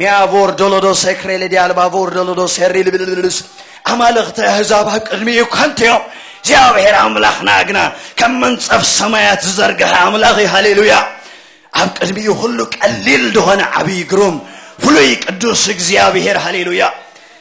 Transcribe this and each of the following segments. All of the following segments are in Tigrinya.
ሚያቮር ዶሎዶስ ሴክሬሌ ዲያልባቮር ዶሎዶስ ሴሪልብልልስ ኣማልኽቲ ኣህዛብ ኣብ ቅድሚኡ ከንቱ እዮም እግዚኣብሔር ኣምላኽና ግና ከም መንፀፍ ሰማያት ዝዘርግሐ ኣምላኽ እዩ ሃሌሉያ ኣብ ቅድሚኡ ኩሉ ቀሊል ዝኾነ ዓብዪ ግሩም ፍሉይ ቅዱስ እግዚኣብሔር ሃሌሉያ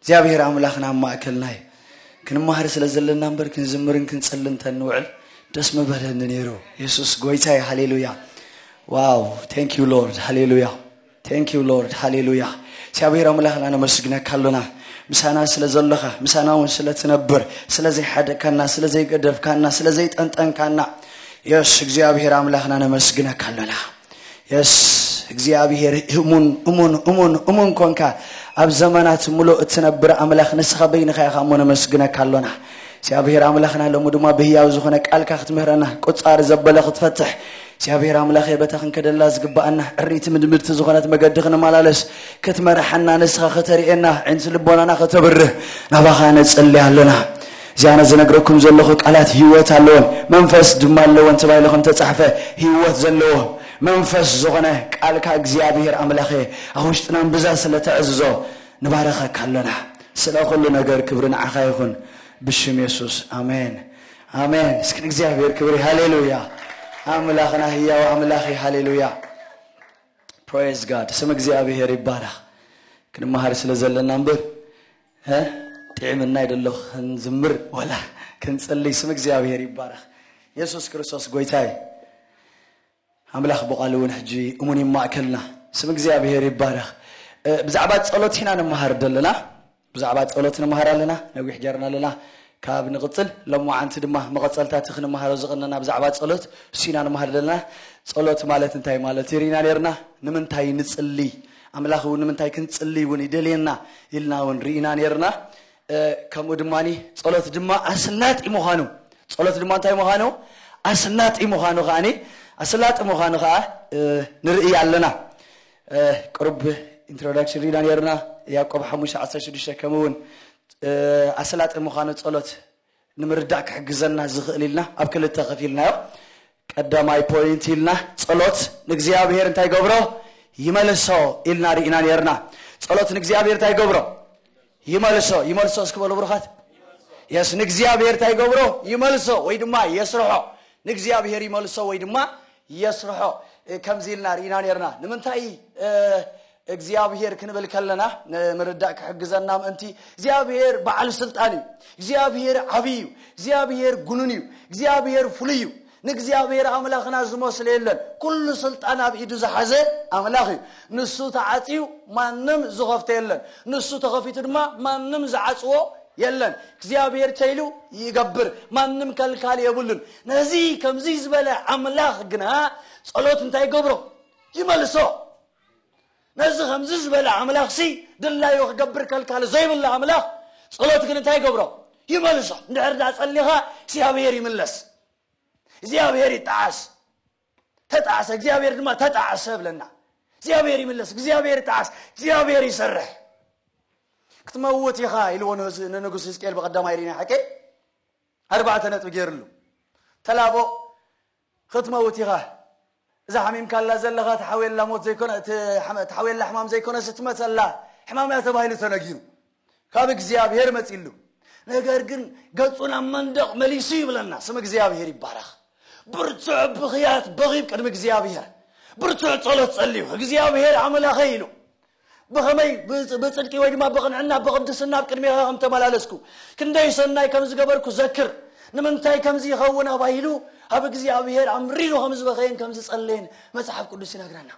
እግዚኣብሔር ኣምላኽና ኣብ ማእከልና እዩ። ክንማሃር ስለ ዘለና እምበር ክንዝምርን ክንጽልን ተንውዕል ደስ ምበለኒ ነይሩ። የሱስ ጎይታ እዩ። ሃሌሉያ ዋው ቴንክ ዩ ሎርድ ሃሌሉያ ቴንክ ዩ ሎርድ ሃሌሉያ። እግዚኣብሔር ኣምላኽና ነመስግነካ ኣሎና ምሳና ስለ ዘለኻ ምሳና እውን ስለ ትነብር ስለ ዘይሓደካና ስለ ዘይገደፍካና ስለ ዘይጠንጠንካና የስ እግዚኣብሔር ኣምላኽና ነመስግነካ ኣሎና። የስ እግዚኣብሄር እሙን እሙን እሙን እሙን ኮንካ ኣብ ዘመናት ምሉእ እትነብር ኣምላኽ ንስኻ በይንኻ ኢኻ እሞ ነመስግነካ ኣሎና እግዚኣብሄር ኣምላኽና ሎሚ ድማ ብህያው ዝኾነ ቃልካ ክትምህረና ቁፃር ዘበለ ክትፈትሕ እግዚኣብሄር ኣምላኽ የበታ ክንከደላ ዝግባኣና ዕሪቲ ምድምድቲ ዝኾነት መገዲ ክንመላለስ ክትመርሓና ንስኻ ከተርእየና ዕንቲ ልቦናና ከተብርህ ናባኻ ነፅልያ ኣሎና እዚ ኣነ ዝነግረኩም ዘለኹ ቃላት ህይወት ኣለወን መንፈስ ድማ ኣለወን ተባሂሉ ከም እተጻሕፈ ህይወት ዘለዎ መንፈስ ዝኾነ ቃልካ እግዚኣብሄር ኣምላኸ ኣብ ውሽጥና እምብዛ ስለ እተዕዝዞ ንባርኸካ ኣሎና ስለ ኩሉ ነገር ክብሪ ንዓኻ ይኹን ብሽም የሱስ ኣሜን ኣሜን እስኪ ንእግዚኣብሄር ክብሪ ሃሌሉያ ኣምላኽና ህያው ኣምላኽ እዩ ሃሌሉያ ፕሬዝ ጋድ ስም እግዚኣብሄር ይባረኽ ክንመሃር ስለ ዘለና እምበር እህ ጢዒምና ይደሎ ክንዝምር ወላ ክንጽልይ ስም እግዚኣብሔር ይባረኽ የሱስ ክርስቶስ ጎይታ እዩ ኣምላኽ ብቓሉ እውን ሕጂ እሙን እዩ ማእከልና ስም እግዚኣብሔር ይባረኽ ብዛዕባ ጸሎት ኢና ንመሃር ዘለና ብዛዕባ ጸሎት ንመሃር ኣለና ነዊሕ ጌርና ኣለና ካብ ንቕጽል ሎመዓንቲ ድማ መቐጸልታ እቲ ክንመሃሮ ዝቕነና ብዛዕባ ጸሎት እሱና ንመሃር ዘለና ጸሎት ማለት እንታይ ማለት እዩ ርኢና ነርና ንምንታይ ንጽልይ ኣምላኽ እውን ንምንታይ ክንጽልይ እውን ይደልየና ኢልና እውን ርኢና ነይርና። ከምኡ ድማ ጸሎት ድማ ኣስላጢ ምዃኑ ጸሎት ድማ እንታይ ምዃኑ ኣስላጢ ምዃኑ ከዓኒ ኣስላጢ ምዃኑ ከዓ ንርእይ ኣለና ቅሩብ ኢንትሮዳክሽን ሪኢና ነርና ያዕቆብ ሓሙሽተ ዓሰርተ ሽዱሽተ ከምኡውን ኣስላጢ ምዃኑ ጸሎት ንምርዳእ ክሕግዘና ዝኽእል ኢልና ኣብ ክልተ ከፊልናዮ። ቀዳማይ ፖይንት ኢልና ጸሎት ንእግዚኣብሔር እንታይ ይገብሮ? ይመልሶ ኢልና ርኢና ነርና። ጸሎት ንእግዚኣብሔር እንታይ ይገብሮ? ይመልሶ። ይመልሶ እስኪ በሉ ብሩኻት። የስ ንእግዚኣብሔር እንታይ ይገብሮ? ይመልሶ ወይ ድማ የስርሖ። ንእግዚኣብሔር ይመልሶ ወይ ድማ የስርሖ ከምዚ ኢልና ርኢና ነርና። ንምንታይ እግዚኣብሄር ክንብል ከለና ንምርዳእ ክሕግዘና ምእንቲ እግዚኣብሄር በዓል ስልጣን እዩ። እግዚኣብሄር ዓብይ እዩ። እግዚኣብሄር ጉኑን እዩ። እግዚኣብሄር ፍሉይ እዩ። ንእግዚኣብሄር ኣምላኽና ዝመስሎ የለን። ኩሉ ስልጣን ኣብ ኢዱ ዝሓዘ ኣምላኽ እዩ። ንሱ ተዓፅዩ ማንም ዝኸፍቶ የለን። ንሱ ተኸፊቱ ድማ ማንም ዝዓፅዎ የለን። እግዚኣብሄር ተይሉ ይገብር ማንም ከልካሊ የብሉን። ነዚ ከምዚ ዝበለ ኣምላኽ ግና ፀሎት እንታይ ይገብሮ? ይመልሶ። ነዚ ከምዚ ዝበለ ኣምላኽሲ ድላዩ ክገብር ከልካሊ ዘይብሉ ኣምላኽ ጸሎት ግን እንታይ ይገብሮ ይመልሶ እንድሕር ዳ ጸሊኻ እግዚኣብሔር ይምለስ እግዚኣብሔር ይጣዓስ ተጣዕሰ እግዚኣብሔር ድማ ተጣዕሰ ብለና እግዚኣብሔር ይምለስ እግዚኣብሔር ይጣዓስ እግዚኣብሔር ይሰርሕ ክትመውት ኢኻ ኢልዎ ንንጉስ ህዝቅኤል ብቐዳማይ ሪና ሕቂ ኣርባዕተ ነጥቢ ገይርሉ ተላቦ ኽትመውት ኢኻ እዛ ሓሚምካላ ዘለኻ ትሓውየላ ሞት ዘይኮነ ትሓውየላ ሕማም ዘይኮነስ እትመጸላ ሕማም እያ ተባሂሉ ተነጊሩ ካብ እግዚኣብሔር መጺሉ ነገር ግን ገጹ ናብ መንደቕ መሊሱ ይብለና ስም እግዚኣብሔር ይባረኽ ብርቱዕ ብኽያት በኺብ ቅድሚ እግዚኣብሔር ብርቱዕ ጸሎት ጸልዩ እግዚኣብሔር ኣምላኸይ ኢሉ ብኸመይ ብጽድቂ ወይ ድማ ብቕንዕና ብቕድስና ኣብ ቅድሜኻ ከም ተመላለስኩ፣ ክንደይ ሰናይ ከም ዝገበርኩ ዘክር፣ ንምንታይ ከምዚ ይኸውን ኣባሂሉ ኣብ እግዚኣብሄር ኣምሪሩ ከም ዝበኸየን ከም ዝጸለየን መጽሓፍ ቅዱስ ይነግረና።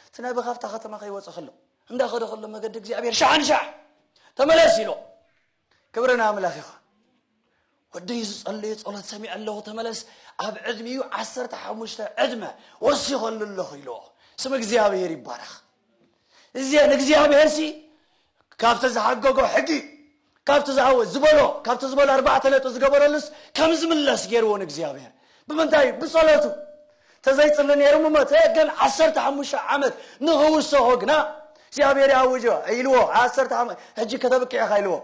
እቲ ነቢ ካብታ ከተማ ከይወጸ ከሎ፣ እንዳኸደ ከሎ መገዲ እግዚኣብሄር ሻሕ ንሻሕ ተመለስ ኢሎ። ክብሪ ንኣምላኽ ይኹን ወደይ ዝጸለዮ ጸሎት ሰሚዐ ኣለኹ ተመለስ ኣብ ዕድሚኡ ዓሰርተ ሓሙሽተ ዕድመ ወሲኸሉ ኣለኹ ኢልዎ ስም እግዚኣብሄር ይባረኽ እዚአ ንእግዚኣብሄር ሲ ካብቲ ዝሓገጎ ሕጊ ካብቲ ዝሃወ ዝበሎ ካብቲ ዝበሎ ኣርባዕተ ነጥቢ ዝገበረሉስ ከም ዝምለስ ገይርዎ ንእግዚኣብሄር ብምንታይ እዩ ብጸሎቱ ተዘይጽሊ ነይሩ ምሞተ ግን ዓሰርተ ሓሙሽተ ዓመት ንኽውሰኾ ግና እግዚኣብሔር ያውጆ ኢልዎ ዓሰርተ ዓመት ሕጂ ከተብቅዕ ኢኻ ኢልዎ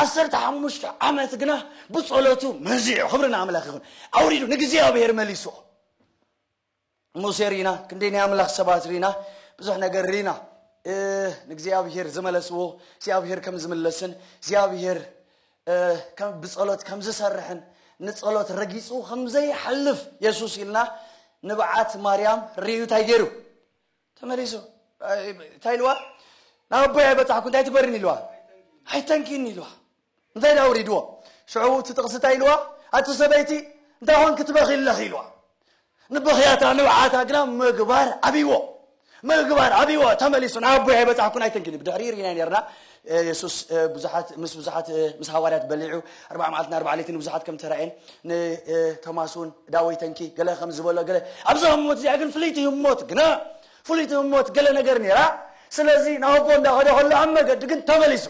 ዓሰርተ ሓሙሽተ ዓመት ግና ብጸሎቱ መዚዑ ክብሪ ንኣምላኽ ይኹን ኣውሪዱ ንእግዚኣብሔር መሊስዎ ሙሴ ሪና ክንደይ ናይ ኣምላኽ ሰባት ሪና ብዙሕ ነገር ሪና ንእግዚኣብሄር ዝመለስዎ እግዚኣብሄር ከም ዝምለስን እግዚኣብሄር ብጸሎት ከም ዝሰርሕን ንጸሎት ረጊጹ ከም ዘይሓልፍ የሱስ ኢልና ንብዓት ማርያም ርእዩ እንታይ ገይሩ ተመሊሱ እንታይ ኢልዋ ናብ ኣቦይ ኣይበፃሕኩ እንታይ ትበሪኒ ኢልዋ ኣይተንኪኒ ኢልዋ እንታይ ዳ ኣውሪድዎ ሽዑ እቲ ጥቕሲ እንታይ ኢልዋ ኣቲ ሰበይቲ እንታይ ኾን ክትበኺ ኣለኺ ኢልዋ ንበኽያታ ንብዓታ ግና ምግባር ዓብይዎ ምግባር ዓብይዎ ተመሊሱ ናብ ኣቦይ ኣይበፃሕኩን ኣይተንኪኒ ብድሕሪ ርኢና ነርና የሱስ ብዙሓት ምስ ብዙሓት ምስ ሃዋርያት በሊዑ ኣርባዓ መዓልትን ኣርባዓ ለይትን ንብዙሓት ከም ተራእየን ንቶማስ እውን ዳወይ ተንኪ ገለ ከም ዝበሎ ገለ ኣብዛ ህሞት እዚኣ ግን ፍልይቲ ህሞት ግና ፍልይቲ ህሞት ገለ ነገር ነይራ ስለዚ ናብቦ እንዳኸደ ከሎ ኣብ መገዲ ግን ተመሊሱ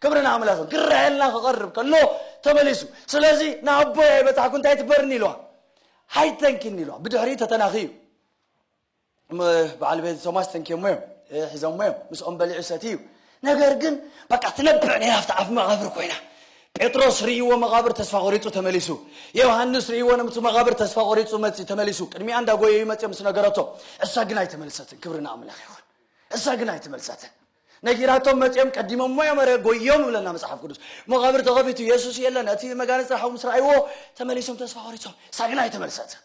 ክብሪ ንኣምላኽ ክረኣየልና ክቐርብ ከሎ ተመሊሱ ስለዚ ንኣቦይ ኣይበፃሕኩ እንታይ ትበርኒ ኢልዋ ሃይተንኪኒ ኢልዋ ብድሕሪ ተተናኺ እዩ በዓል ቤት ቶማስ ተንኪዮሞ እዮም ሒዞሞ እዮም ምስኦም በሊዑ ሰትዩ እዩ ነገር ግን በቃ ትነብዕ ነይራ ኣብቲ ኣፍ መቓብር ኮይና ጴጥሮስ ርእይዎ መቓብር ተስፋ ቆሪጹ ተመሊሱ ዮሃንስ ርእይዎ ነምቲ መቓብር ተስፋ ቆሪጹ መጺ ተመሊሱ ቅድሚኣ እንዳጎየዩ መጺኦም ምስ ነገረቶ እሳ ግን ኣይተመልሰትን ክብሪ ንኣምላኽ ይኹን እሳ ግን ኣይተመልሰትን ነጊራቶም መጺኦም ቀዲሞሞ እዮም ረ ጎዮም ይብለና መጽሓፍ ቅዱስ መቓብር ተኸፊቱ የሱስ የለን እቲ መጋነጽ ሓው ምስ ረኣይዎ ተመሊሶም ተስፋ ቆሪጾም እሳ ግን ኣይተመልሰትን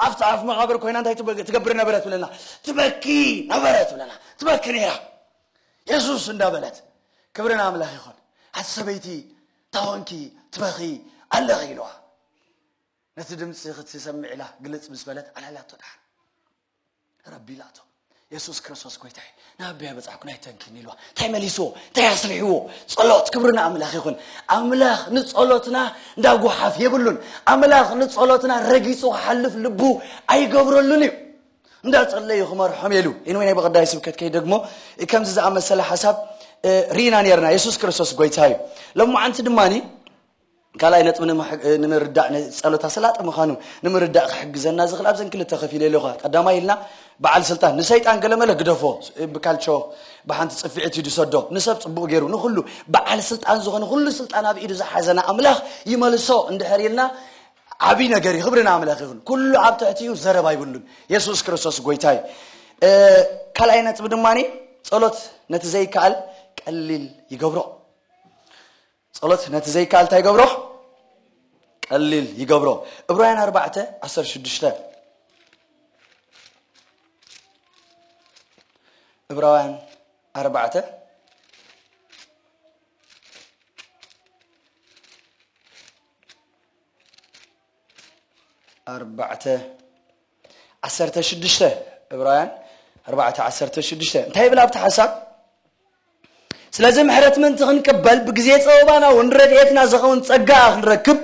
ኣብቲ ኣፍ መቓብር ኮይና እንታይ ትበ- ትገብር ነበረት ብለና ትበኪ ነበረት ብለና ትበኪ ነይራ የሱስ እንዳበለት ክብሪ ንኣምላኽ ይኹን ኣቲ ሰበይቲ ታወንኪ ትበኺ ኣለኺ ኢልዋ ነቲ ድምፂ ክትሰምዕ ኢላ ግልፅ ምስ በለት ኣልዓላቶ ድሓን ረቢ ኢላቶ የሱስ ክርስቶስ ጎይታይ ናብ ኣቢያ በጻሕኩ ናይ ተንኪን ኢልዋ እንታይ መሊስዎ እንታይ ኣስሪሕዎ ጸሎት ክብሪ ንኣምላኽ ይኹን ኣምላኽ ንጸሎትና እንዳ ጓሓፍ የብሉን ኣምላኽ ንጸሎትና ረጊጹ ክሓልፍ ልቡ ኣይገብረሉን እዩ እንዳ ጸለዩ ክመርሖም የሉ ኢንወይ ናይ በቐዳይ ስብከት ከይ ደግሞ ከምዚ ዝኣመሰለ ሓሳብ ርኢና ነርና የሱስ ክርስቶስ ጎይታ እዩ ሎማዓንቲ ድማኒ ካልኣይ ነጥቢ ንምርዳእ ጸሎት ኣስላጢ ምዃኑ ንምርዳእ ክሕግዘና ዝኽእል ኣብዘን ክልተ ከፊለ ኣለኹ። ቀዳማይ ኢልና በዓል ስልጣን ንሰይጣን ገለመለ ግደፎ ብካልቾ ብሓንቲ ጽፍዒት እዩ ዝሰዶ ንሰብ ጽቡቕ ገይሩ ንኹሉ በዓል ስልጣን ዝኾነ ኩሉ ስልጣን ኣብ ኢዱ ዝሓዘና ኣምላኽ ይመልሶ እንድሕር ኢልና ዓብይ ነገር እዩ ክብሪ ንኣምላኽ ይኹን ኩሉ ኣብ ትሕቲኡ ዘረባ ይብሉን የሱስ ክርስቶስ ጎይታ እዩ ካልኣይ ነጥቢ ድማ ጸሎት ነቲ ዘይከኣል ቀሊል ይገብሮ ጸሎት ነቲ ዘይከኣል እንታይ ይገብሮ? ቀሊል ይገብሮ። እብራውያን ኣርባዕተ ዓሰርተ ሽዱሽተ እብራውያን ኣርባዕተ ኣርባዕተ ዓሰርተ ሽዱሽተ ዕብራውያን ኣርባዕተ ዓሰርተ ሽዱሽተ እንታይ ይብል ኣብቲ ሓሳብ ስለዚ ምሕረት ምእንቲ ክንቅበል ብግዜ ፀበባና እውን ረድኤትና ዝኸውን ጸጋ ክንረክብ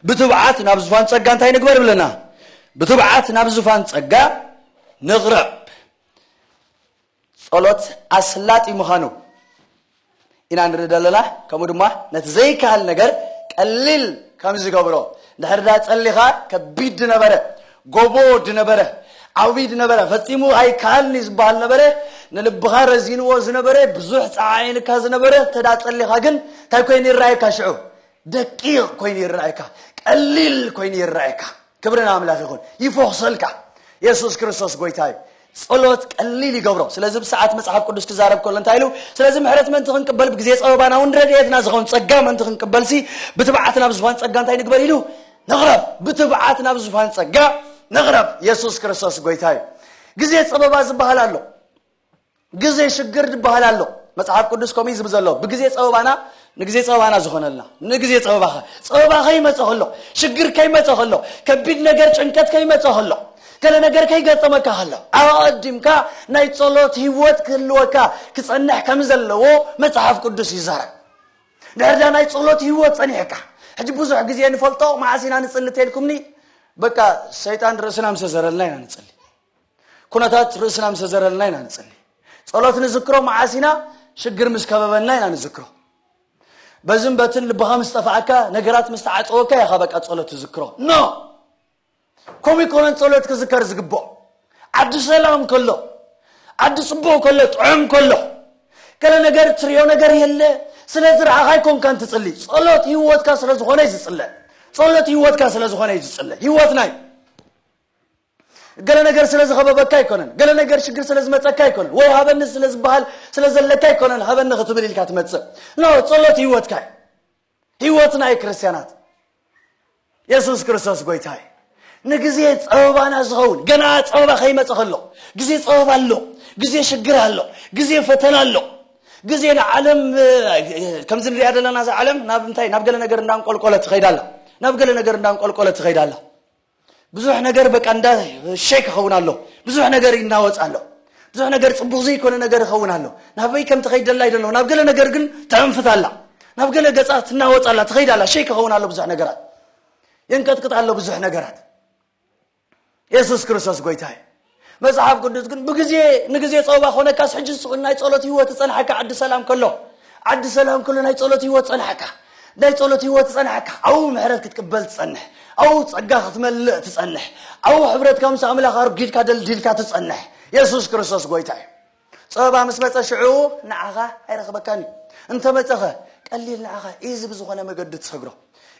ብትብዓት ናብ ዝፋን ጸጋ እንታይ ንግበር ብለና ብትብዓት ናብ ዝፋን ጸጋ ንቕረብ ጸሎት ኣስላጢ ምዃኑ ኢና ንርኢ ዘለና ከምኡ ድማ ነቲ ዘይከሃል ነገር ቀሊል ከም ዝገብሮ ድሕር ዳ ጸሊኻ ከቢድ ድነበረ ጎቦ ድነበረ ዓውቢ ድነበረ ፈጺሙ ኣይከሃልኒ ዝበሃል ነበረ ንልብኻ ረዚንዎ ዝነበረ ብዙሕ ጸዓዒንካ ዝነበረ እንተዳ ጸሊኻ ግን እንታይ ኮይኑ ይረኣየካ ሽዑ ደቂቕ ኮይኑ ይረኣየካ ቀሊል ኮይኑ ይረኣየካ ክብሪ ንኣምላኽ ይኹን ይፎኽሰልካ የሱስ ክርስቶስ ጎይታ እዩ ጸሎት ቀሊል ይገብሮ ስለዚ ብሰዓት መጽሓፍ ቅዱስ ክዛረብ ከሎ እንታይ ኢሉ ስለዚ ምሕረት ምእንቲ ክንቅበል ብግዜ ጸበባና እውን ረድኤትና ዝኸውን ጸጋ ምእንቲ ክንቅበልሲ ብትብዓት ናብ ዝፋን ጸጋ እንታይ ንግበር ኢሉ ንቕረብ ብትብዓት ናብ ዝፋን ጸጋ ንቕረብ የሱስ ክርስቶስ ጎይታ እዩ ግዜ ጸበባ ዝበሃል ኣሎ ግዜ ሽግር ዝበሃል ኣሎ መጽሓፍ ቅዱስ ከምኡ እዩ ዝብል ዘሎ ብግዜ ጸበባና ንግዜ ጸበባና ዝኾነልና ንግዜ ጸበባኸ ጸበባ ከይመጸ ከሎ ሽግር ከይመጸ ከሎ ከቢድ ነገር ጭንቀት ከይመጸ ከሎ ገለ ነገር ከይገጠመካ ከሎ ኣቐዲምካ ናይ ጸሎት ህይወት ክህልወካ ክጸንሕ ከም ዘለዎ መጽሓፍ ቅዱስ ይዛረብ ድሕር ዳ ናይ ጸሎት ህይወት ጸኒሕካ ሕጂ ብዙሕ ግዜ ንፈልጦ መዓስ ኢና ንጽሊ ተልኩምኒ በቃ ሰይጣን ርእስና ምሰ ዘረልና ኢና ንጽሊ ኩነታት ርእስና ምስ ዘረልና ኢና ንጽሊ ጸሎት ንዝክሮ መዓስ ኢና ሽግር ምስ ከበበና ኢና ንዝክሮ በዝን በትን ልብኻ ምስ ጠፍኣካ ነገራት ምስ ተዓፀወካ ኢኻ በቃ ጸሎት ትዝክሮ ኖ ከምኡ ይኮነን ጸሎት ክዝከር ዝግብኦ ዓዲ ሰላም ከሎ ዓዲ ጽቡቕ ከሎ ጥዑም ከሎ ገለ ነገር ትሪኦ ነገር የለ ስለ ዝረኣኻ ኣይኮንካን ትጽሊ ጸሎት ህይወትካ ስለ ዝኾነ እዩ ዝጽለ ጸሎት ህይወትካ ስለ ዝኾነ እዩ ዝጽለ ህይወትና እዩ ገለ ነገር ስለ ዝኸበበካ ኣይኮነን፣ ገለ ነገር ሽግር ስለ ዝመጸካ ኣይኮነን፣ ወይ ሃበኒ ስለ ዝበሃል ስለ ዘለካ ኣይኮነን ሃበኒ ክትብል ኢልካ ትመጽእ። ኖ ጸሎት ህይወትካ እዩ። ህይወትና እዩ ክርስትያናት። የሱስ ክርስቶስ ጎይታ እዩ። ንግዜ ጸበባና ዝኸውን ገና ጸበባ ከይመጸ ከሎ ግዜ ጸበባ ኣሎ፣ ግዜ ሽግር ኣሎ፣ ግዜ ፈተና ኣሎ። ግዜ ንዓለም ከምዚ ንሪኣ ዘለና እዛ ዓለም ናብ እንታይ ናብ ገለ ነገር እንዳንቆልቆለት ትኸይድ ኣላ ናብ ገለ ነገር እንዳንቆልቆለት ትኸይድ ኣላ ብዙሕ ነገር በቃ እንዳ ሸክ ይኸውን ኣሎ ብዙሕ ነገር ይናወፅ ኣሎ ብዙሕ ነገር ፅቡቕ ዘይኮነ ነገር ይኸውን ኣሎ ናበይ ከም ትኸይድ ደላ ይደሎ ናብ ገለ ነገር ግን ትዕንፍት ኣላ ናብ ገለ ገፃ ትናወፅ ኣላ ትኸይድ ኣላ ሸክ ይኸውን ኣሎ ብዙሕ ነገራት የንቀጥቅጥ ኣሎ ብዙሕ ነገራት የሱስ ክርስቶስ ጎይታ እዩ መጽሓፍ ቅዱስ ግን ብግዜ ንግዜ ጸወባ ኮነካስ ሕጂ ስቅ ናይ ጸሎት ህይወት ጸንሓካ ዓዲ ሰላም ከሎ ዓዲ ሰላም ከሎ ናይ ጸሎት ህይወት ጸንሓካ ናይ ጸሎት ህይወት ጸንሓካ ኣብኡ ምሕረት ክትቅበል ትጸንሕ ኣብኡ ጸጋ ክትመልእ ትጸንሕ ኣብኡ ሕብረትካ ምስ ኣምላኽ ኣርጊድካ ደልዲልካ ትጸንሕ የሱስ ክርስቶስ ጎይታ እዩ ጸበባ ምስ መጸ ሽዑ ንዓኻ ኣይረኽበካን እዩ እንተመጸኸ ቀሊል ንዓኻ ኢዚ ብዝኾነ መገዲ ትሰግሮ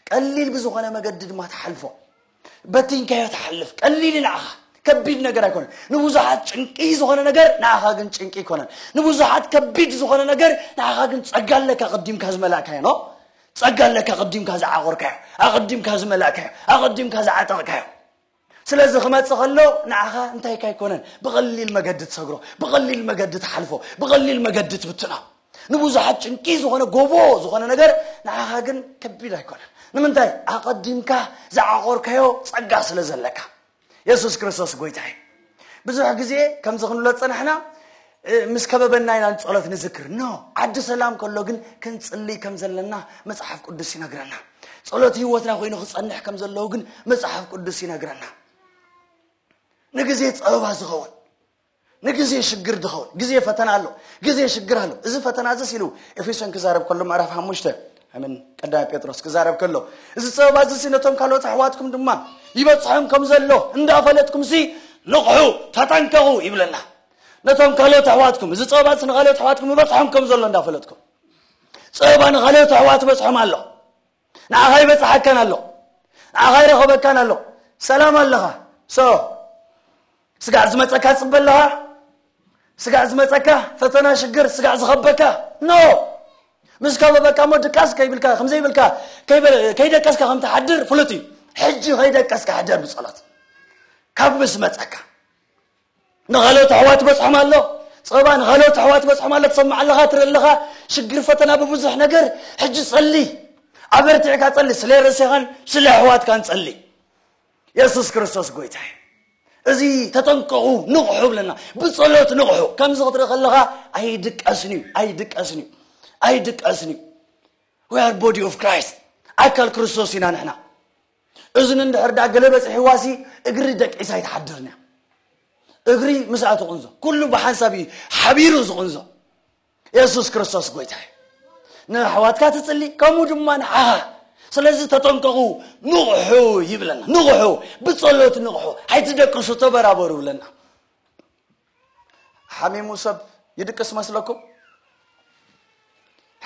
ቀሊል ብዝኾነ መገዲ ድማ ትሓልፎ በቲንካዮ ትሓልፍ ቀሊል እዩ ንዓኻ ከቢድ ነገር ኣይኮነን ንብዙሓት ጭንቂ ዝኾነ ነገር ንዓኻ ግን ጭንቂ ኣይኮነን ንብዙሓት ከቢድ ዝኾነ ነገር ንዓኻ ግን ጸጋ ኣለካ ቅዲምካ ዝመላእካዮ ኖ ጸጋ ኣለካ ቅዲምካ ዝዓቆርካዮ ኣቕዲምካ ዝመላእካዮ ኣቕዲምካ ዝዓጠቕካዮ ስለዚ ክመፅእ ከሎ ንዓኻ እንታይካ ኣይኮነን ብቐሊል መገዲ ትሰግሮ ብቐሊል መገዲ ትሓልፎ ብቐሊል መገዲ ትብትኖ ንብዙሓት ጭንቂ ዝኾነ ጎቦ ዝኾነ ነገር ንዓኻ ግን ከቢድ ኣይኮነን ንምንታይ ኣቐዲምካ ዝዓቖርካዮ ጸጋ ስለ ዘለካ የሱስ ክርስቶስ ጎይታ እዩ ብዙሕ ግዜ ከምዚ ክንብሎ ዝጸናሕና ምስ ከበበና ኢና ንጸሎት ንዝክር ኖ ዓዲ ሰላም ከሎ ግን ክንጽልይ ከም ዘለና መጽሓፍ ቅዱስ ይነግረና ጸሎት ህይወትና ኮይኑ ክጸንሕ ከም ዘለዎ ግን መጽሓፍ ቅዱስ ይነግረና ንግዜ ጸበባ ዝኸውን ንግዜ ሽግር ድኸውን ግዜ ፈተና ኣሎ ግዜ ሽግር ኣሎ እዚ ፈተና እዚስ ኢሉ ኤፌሶን ክዛረብ ከሎ ምዕራፍ ሓሙሽተ ኣምን ቀዳማይ ጴጥሮስ ክዛረብ ከሎ እዚ ጸበባ እዚሲ ነቶም ካልኦት ኣሕዋትኩም ድማ ይበጽሖም ከም ዘሎ እንዳፈለጥኩምሲ ንቕሑ ተጠንቀቑ ይብለና ነቶም ካልኦት ኣሕዋትኩም እዚ ጸበባ እዚ ንካልኦት ኣሕዋትኩም ይበጽሖም ከም ዘሎ እንዳፈለጥኩም ጸበባ ንካልኦት ኣሕዋት በጽሖም ኣሎ ንዓኻ ይበጽሓካን ኣሎ ንዓኻ ይረኸበካን ኣሎ ሰላም ኣለኻ ሶ ስጋዕ ዝመፀካ ፅበ ኣለኻ ስጋዕ ዝመፀካ ፈተና ሽግር ስጋዕ ዝኸበካ ኖ ምስ ከበበካ እሞ ድቃስ ከይብልካ ከምዘይብልካ ከይደቀስካ ከም ትሓድር ፍሉጥ እዩ ሕጂ ከይደቀስካ ሕደር ብፀሎት ካብ ምስ መፀካ ንኻልኦት ኣሕዋት ይበጽሖም ኣሎ ጸባ ንኻልኦት ኣሕዋት ይበጽሖም ኣሎ ትሰምዕ ኣለኻ ትርኢ ኣለኻ ሽግር ፈተና ብብዙሕ ነገር ሕጂ ጸሊ ኣበርቲዕካ ጸሊ ስለ ርእስኻን ስለ ኣሕዋትካን ጸሊ የሱስ ክርስቶስ ጎይታ እዩ እዚ ተጠንቀቑ ንቕሑ ብለና ብጸሎት ንቕሑ ከምዚ ክትርኢ ከለኻ ኣይድቀስን እዩ ኣይድቀስን እዩ ኣይድቀስን እዩ ወያር ቦዲ ኦፍ ክራይስት ኣካል ክርስቶስ ኢና ንሕና እዝኒ እንድሕር ድኣ ገለ በጺሕዋሲ እግሪ ደቂሳ ኣይትሓድርን እያ። እግሪ ምስኣ ትቕንዞ። ኩሉ ብሓንሳብ እዩ ሓቢሩ ዝቕንዞ። የሱስ ክርስቶስ ጎይታ እዩ። ንኣሕዋትካ ትጽሊ ከምኡ ድማ ንዓኻ ስለዚ ተጠንቀቑ ንቕሑ ይብለና ንቕሑ ብጸሎት ንቕሑ ኣይትደቅሱ ተበራበሩ ይብለና ሓሚሙ ሰብ ይድቅስ መስለኩም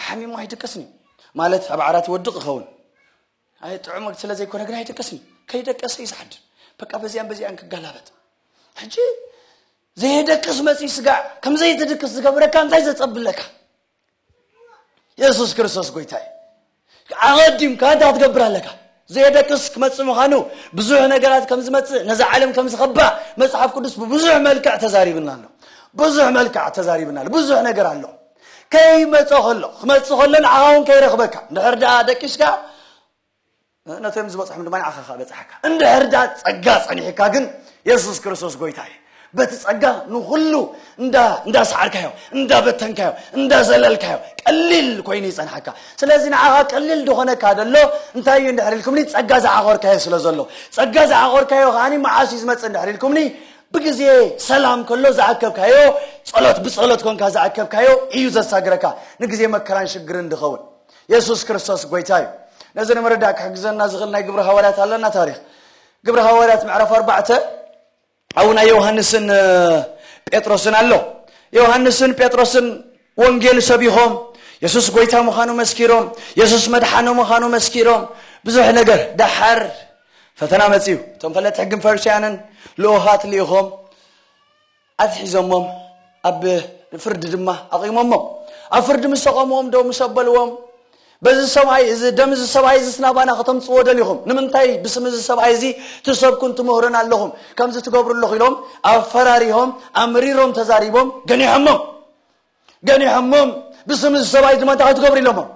ሓሚሙ ኣይድቅስን እዩ ማለት ኣብ ዓራት ይወድቕ ይኸውን ኣይ ጥዑም ስለ ዘይኮነ ግን ኣይደቀስን ከይደቀሰ እዩ ዝሓድር በቃ በዚኣን በዚኣን ክጋላበት ሕጂ ዘየደቅስ መፂ ስጋዕ ከም ዘይትድቅስ ዝገብረካ እንታይ ዘፀብለካ የሱስ ክርስቶስ ጎይታ እዩ ኣቐዲምካ እንታይ ክትገብር ኣለካ ዘየደቅስ ክመፅእ ምዃኑ ብዙሕ ነገራት ከም ዝመፅእ ነዚ ዓለም ከም ዝኸባእ መፅሓፍ ቅዱስ ብብዙሕ መልክዕ ተዛሪብና ኣሎ ብዙሕ መልክዕ ተዛሪብና ኣሎ ብዙሕ ነገር ኣሎ ከይመጾ ከሎ ክመጽእ ከሎ ንዓኻ እውን ከይረኽበካ እንድሕር ደኣ ደቂስካ ነቶም ዝበፅሖም ድማ ንዓኻ ከዓ በፅሓካ እንድሕር ደኣ ፀጋ ፀኒሕካ ግን የሱስ ክርስቶስ ጎይታ እዩ በቲ ፀጋ ንኩሉ እንዳሰዓርካዮ እንዳበተንካዮ እንዳዘለልካዮ ቀሊል ኮይኑ ይፀንሓካ ስለዚ ንዓኻ ቀሊል ዝኾነካ ደሎ እንታይ እዩ እንድሕር ኢልኩምኒ ፀጋ ዝዓኾርካዮ ስለ ዘሎ ፀጋ ዝዓኾርካዮ ከዓኒ መዓስ እዩ ዝመፅእ እንድሕር ኢልኩምኒ ብግዜ ሰላም ከሎ ዝኣከብካዮ ጸሎት ብጸሎት ኮንካ ዝኣከብካዮ እዩ ዘሳግረካ ንግዜ መከራን ሽግርን ድኸውን የሱስ ክርስቶስ ጎይታ እዩ ነዚ ንምርዳእ ክሕግዘና ዝኽእል ናይ ግብሪ ሃዋርያት ኣለና ታሪክ ግብሪ ሃዋርያት ምዕራፍ ኣርባዕተ ኣብኡ ናይ ዮሃንስን ጴጥሮስን ኣሎ ዮሃንስን ጴጥሮስን ወንጌል ሰቢኾም የሱስ ጎይታ ምዃኑ መስኪሮም የሱስ መድሓኖ ምዃኑ መስኪሮም ብዙሕ ነገር ደሓር ፈተና መጺኡ። እቶም ፈለጥቲ ሕግን ፈሪሳውያንን ልኡኻት ልኢኾም ኣትሒዞሞም ኣብ ፍርዲ ድማ ኣቚሞሞም። ኣብ ፍርዲ ምስ ኣቘምዎም ዶ ምስ ኣበልዎም በዚ ሰብኣይ እዚ ደም እዚ ሰብኣይ እዚ ስናባና ከተምፅዎ ደሊኹም ንምንታይ ብስም እዚ ሰብኣይ እዚ ትሰብኩን ትምህሩን ኣለኹም ከምዚ ትገብሩ ኣለኹ ኢሎም ኣፈራሪሆም ኣምሪሮም ተዛሪቦም ገኒሖሞም ገኒሖሞም ብስም እዚ ሰብኣይ ድማ እንታይ ክትገብሩ ኢሎሞም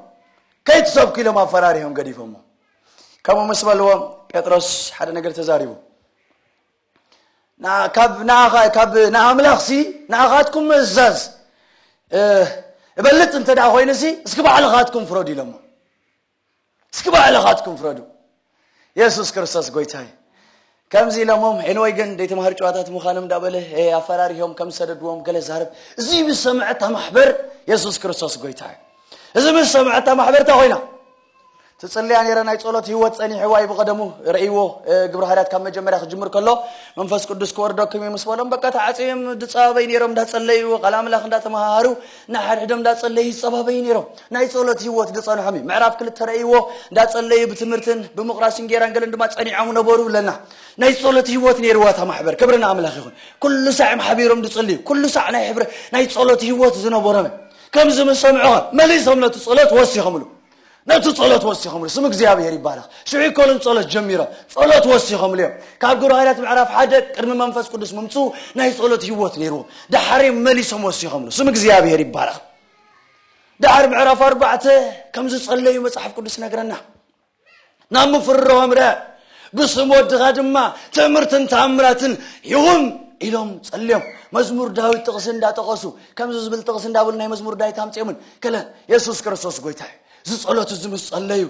ከይትሰብኩ ኢሎም ኣፈራሪሆም ገዲፎሞ ከምኡ ምስ በልዎ ጴጥሮስ ሓደ ነገር ተዛሪቡ ንኣምላኽ ሲ ንኣኻትኩም ምእዛዝ እበልፅ እንተ ኮይኑ ሲ እስኪ ባዕልኻትኩም ፍረዱ ኢሎሞ እስኪ ባዕልኻትኩም ፍረዱ የሱስ ክርስቶስ ጎይታ እዩ ከምዚ ኢሎሞም ሄንወይ ግን ደይቲ ማህር ጨዋታት ምዃኖም እንዳበለ ኣፈራሪሆም ከም ዝሰደድዎም ገለ ዛርብ እዚ ምስ ሰምዐታ ማሕበር የሱስ ክርስቶስ ጎይታ እዩ እዚ ምስ ሰምዐታ ማሕበር እንታይ ኮይና ትፅልያ ነረ ናይ ፀሎት ህይወት ፀኒሕዋ እዩ ብቐደሙ ረእይዎ ግብረ ሃርያት ካብ መጀመርያ ክጅምር ከሎ መንፈስ ቅዱስ ክወርደኩም እዩ ምስ በሎም በቃ ተዓፅዮም ድፃበይ ነሮም እንዳፀለዩ ቃል ኣምላኽ እንዳተመሃሃሩ ንሓድሕዶም እንዳጸለዩ ይጸባበዩ ነይሮም። ናይ ጸሎት ህይወት ዝጸንሖም እዩ። ምዕራፍ ክልተ ረእይዎ እንዳጸለዩ ብትምህርትን ብምቑራስ እንጌራን ገለን ድማ ጸኒዖም ነበሩ ብለና። ናይ ጸሎት ህይወት ነይርዋ እታ ማሕበር ክብሪ ንኣምላኽ ይኹን። ኩሉ ሳዕ እዮም ሓቢሮም ዝጽልዩ። ኩሉ ሳዕ ናይ ሕብረ ናይ ጸሎት ህይወት ዝነበሮም እዮም። ከምዚ ምስ ሰምዑ ኸ መሊሶም ነቲ ጸሎት ወሲኸምሉ። ነቲ ጸሎት ወሲኾምሉ ስም እግዚኣብሔር ይባረኽ ሽዑ ኮልን ጸሎት ጀሚሮም ጸሎት ወሲኾምሉ እዮም ካብ ግብረ ሃይላት ምዕራፍ ሓደ ቅድሚ መንፈስ ቅዱስ ምምፅኡ ናይ ጸሎት ህይወት ነይርዎም ዳሓር መሊሶም ወሲኾምሉ ስም እግዚኣብሔር ይባረኽ ዳሓር ምዕራፍ ኣርባዕተ ከም ዝጸለዩ መጽሓፍ ቅዱስ ነግረና ናብ ምፍርራሁ ኣምርሐ። ብስም ወድኻ ድማ ትእምርትን ተኣምራትን ይኹን ኢሎም ጸልዮም መዝሙር ዳዊት ጥቕሲ እንዳጠቐሱ ከምዚ ዝብል ጥቕሲ እንዳበሉ ናይ መዝሙር ዳዊት ኣምጺኦምን ከለ የሱስ ክርስቶስ ጎይታ እዩ ዝጸሎት እዚ ምስ ጸለዩ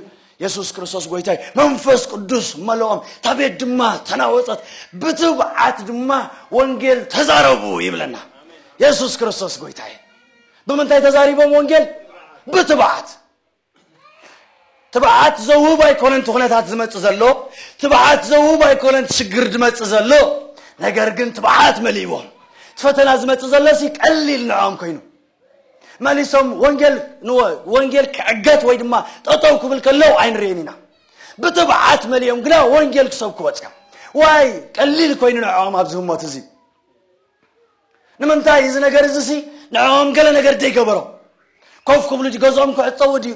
የሱስ ክርስቶስ ጎይታይ መንፈስ ቅዱስ መለኦም እታ ቤት ድማ ተናወፀት ብትብዓት ድማ ወንጌል ተዛረቡ ይብለና የሱስ ክርስቶስ ጎይታይ ብምንታይ ተዛሪቦም ወንጌል ብትብዓት ትብዓት ዘውህብ ኣይኮነን እቲ ኩነታት ዝመጽእ ዘሎ፣ ትብዓት ዘውህብ ኣይኮነን እቲ ሽግር ዝመጽእ ዘሎ፣ ነገር ግን ትብዓት መሊእዎም እቲ ፈተና ዝመጽእ ዘሎሲ ቀሊል ንዕኦም ኮይኑ መሊሶም ወንጌል ወንጌል ክዕገት ወይ ድማ ጠጠው ክብል ከለው ኣይንርእን ኢና። ብትብዓት መሊኦም ግና ወንጌል ክሰብኩ ወጽኦም ዋይ ቀሊል ኮይኑ ንዕኦም ኣብዚ ህሞት እዚ ንምንታይ እዚ ነገር እዚሲ ንዕኦም ገለ ነገር ዘይገበሮም? ኮፍ ክብሉ ድዩ ገዝኦም ክዕጸዉ ድዩ?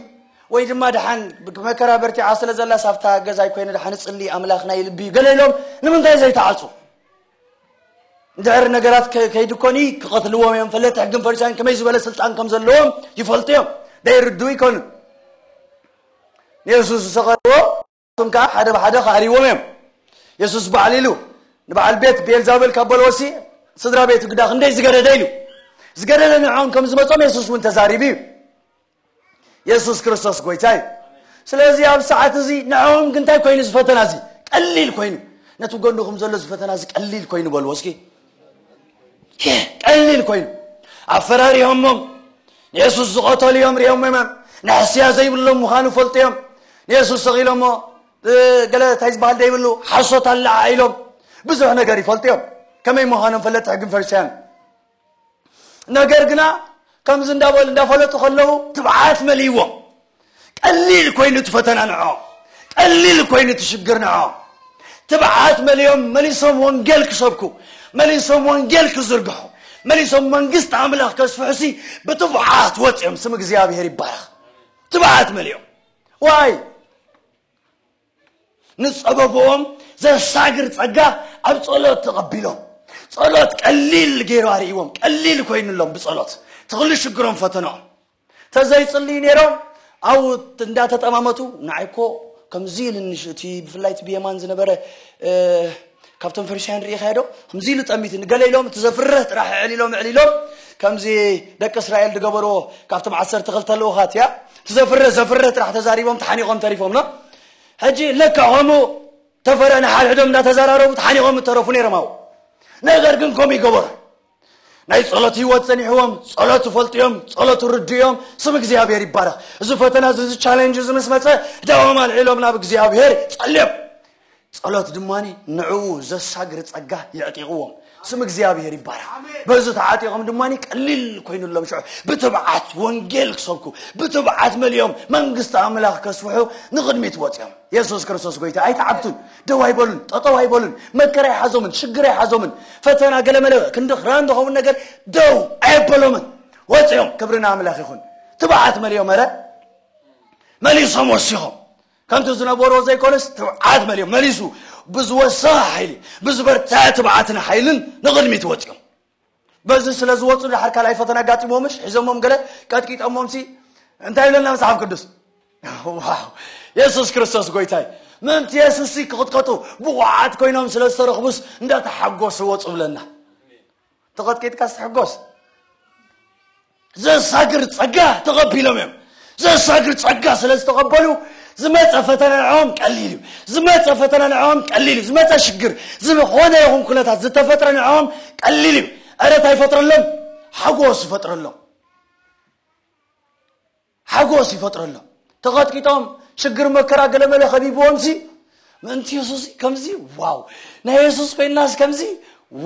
ወይ ድማ ደሓን መከራ በርቲዓ ስለ ዘላስ ኣብታ ገዛይ ኮይነ ደሓን እጽሊ ኣምላኽ ናይ ልቢ እዩ ገለ ኢሎም ንምንታይ ዘይተዓጹ? እንድሕር ነገራት ከይዲ ኮኒ ክቐትልዎም እዮም ፈለጥቲ ሕግን ፈሪሳውያን ከመይ ዝበለ ስልጣን ከም ዘለዎም ይፈልጡ እዮም ደይርድኡ ይኮኑ ንየሱስ ዝሰቐልዎ እቶም ከኣ ሓደ ብሓደ ክኣልይዎም እዮም። የሱስ ባዕሉ ኢሉ፣ ንበዓል ቤት ብኤልዛቤል ካብ በልዎሲ፣ ስድራ ቤቱ ግዳ ክንደይ ዝገደደ ኢሉ። ዝገደደ ንዕኦም ከም ዝመጾም የሱስ እውን ተዛሪቡ እዩ። የሱስ ክርስቶስ ጐይታ እዩ። ስለዚ ኣብ ሰዓት እዚ ንዕኦም ግን እንታይ ኮይኑ ዝፈተና እዚ ቀሊል ኮይኑ ነቲ ጎንኹም ዘሎ ዝፈተና እዚ ቀሊል ኮይኑ በልዎ እስኪ ቀሊል ኮይኑ ኣፈራሪሆሞም ንየሱስ ዝቐተሉ እዮም ሪኦም መም ንሕስያ ዘይብሎም ምዃኑ ፈልጡ እዮም ንየሱስ ሰቒሎሞ ገለ እንታይ ዝበሃል ዘይብሉ ሓሶት ኣለዓ ኢሎም ብዙሕ ነገር ይፈልጡ እዮም ከመይ ምዃኖም ፈለጥቲ ሕግን ፈሪሳያን ነገር ግና ከምዚ እንዳበሉ እንዳፈለጡ ከለዉ ትብዓት መሊዎም ቀሊል ኮይኑ እቲ ፈተና ንዕኦም፣ ቀሊል ኮይኑ እቲ ሽግር ንዕኦም። ትብዓት መሊኦም መሊሶም ወንጌል ክሰብኩ፣ መሊሶም ወንጌል ክዝርግሑ፣ መሊሶም መንግስቲ ኣምላኽ ከስፍሑሲ ብትብዓት ወጺኦም ስም እግዚኣብሔር ይባረኽ። ትብዓት መሊኦም ዋይ ንጸበብኦም ዘሳግር ጸጋ ኣብ ጸሎት ተቐቢሎም ጸሎት ቀሊል ገይሩ ኣርእዎም ቀሊል ኮይኑሎም ብጸሎት ትኽሉ ሽግሮም ፈተነኦም ተዘይጽልዩ ኔሮም ኣብኡ እንዳ ተጠማመቱ ንዓይ እኮ ከምዚ ኢልኒ እቲ ብፍላይ እቲ ብየማን ዝነበረ ካብቶም ፈሪሳውያን ርኢኻዮ ዶ ከምዚ ኢሉ ጠሚትኒ ገለ ኢሎም እቲ ዘፍርህ ጥራሕ ኣዕሊሎም ኣዕሊሎም ከምዚ ደቂ እስራኤል ዝገበርዎ ካብቶም ዓሰርተ ክልተ ልኡኻት እያ እቲ ዘፍርህ ዘፍርህ ጥራሕ ተዛሪቦም ተሓኒቖም ተሪፎም ና ሕጂ ለካ ከምኡ ተፈረ ንሓድሕዶም እንዳተዘራረቡ ተሓኒቖም እተረፉ ነይሮም ኣብኡ ነገር ግን ከምኡ ይገበሩ ናይ ጸሎት ህይወት ጸኒሕዎም ጸሎት ዝፈልጡ እዮም ጸሎት ርዱ እዮም ስም እግዚኣብሔር ይባረኽ እዚ ፈተና እዚ እዚ ቻለንጅ እዚ ምስ መፀ ዳዎም ኣልዒሎም ናብ እግዚኣብሔር ጸልዮም ጸሎት ድማኒ ንዕኡ ዘሳግር ጸጋ የዕጢቕዎም ስም እግዚኣብሔር ይባረኽ በዚ ተዓጢቖም ድማኒ ቀሊል ኮይኑሎም ሽዑ ብትብዓት ወንጌል ክሰብኩ ብትብዓት መሊኦም መንግስቲ ኣምላኽ ከስፍሑ ንቕድሚት ወፅኦም የሱስ ክርስቶስ ጎይታ ኣይተዓብቱን ደው ኣይበሉን፣ ጠጠው ኣይበሉን፣ መከራ ኣይሓዞምን፣ ሽግር ኣይሓዞምን፣ ፈተና ገለመለ ክንዲ ክራን ዝኸውን ነገር ደው ኣየበሎምን። ወፂኦም ክብሪ ንኣምላኽ ይኹን ትብዓት መሊኦም ኧረ መሊሶም ወሲኾም ከምቲ ዝነበሮ ዘይኮነስ ትብዓት መሊኦም መሊሱ ብዝወሰኸ ሓይሊ ብዝበርትዐ ትብዓትን ሓይልን ንቕድሚት ወፂኦም በዚ ስለ ዝወፁ ድሓር ካልኣይ ፈተና ኣጋጢሞምሽ ሒዞሞም ገለ ቀጥቂጦሞምሲ እንታይ ይብለና መጽሓፍ ቅዱስ ዋው የሱስ ክርስቶስ ጎይታይ ምእንቲ የሱስ ክቕጥቀጡ ብቑዓት ኮይኖም ስለ ዝተረኽቡስ እንዳተሓጎሱ ወፁ ብለና ተቐጥቂጥካ ስትሕጎስ ዘሳግር ጸጋ ተቐቢሎም እዮም። ዘሳግር ጸጋ ስለ ዝተቐበሉ ዝመጸ ፈተና ንዕኦም ቀሊል እዩ። ዝመጸ ፈተና ንዕኦም ቀሊል እዩ። ዝመጸ ሽግር፣ ዝኾነ ይኹን ኩነታት ዝተፈጥረ ንዕኦም ቀሊል እዩ። ዕረታ ይፈጥረሎም፣ ሓጎስ ይፈጥረሎም። ሓጎስ ይፈጥረሎም። ተቐጥቂጦም ሽግር መከራ ገለመለ ከቢብዎም ሲ ምእንቲ የሱስ ከምዚ ዋው ናይ የሱስ ኮይናስ ከምዚ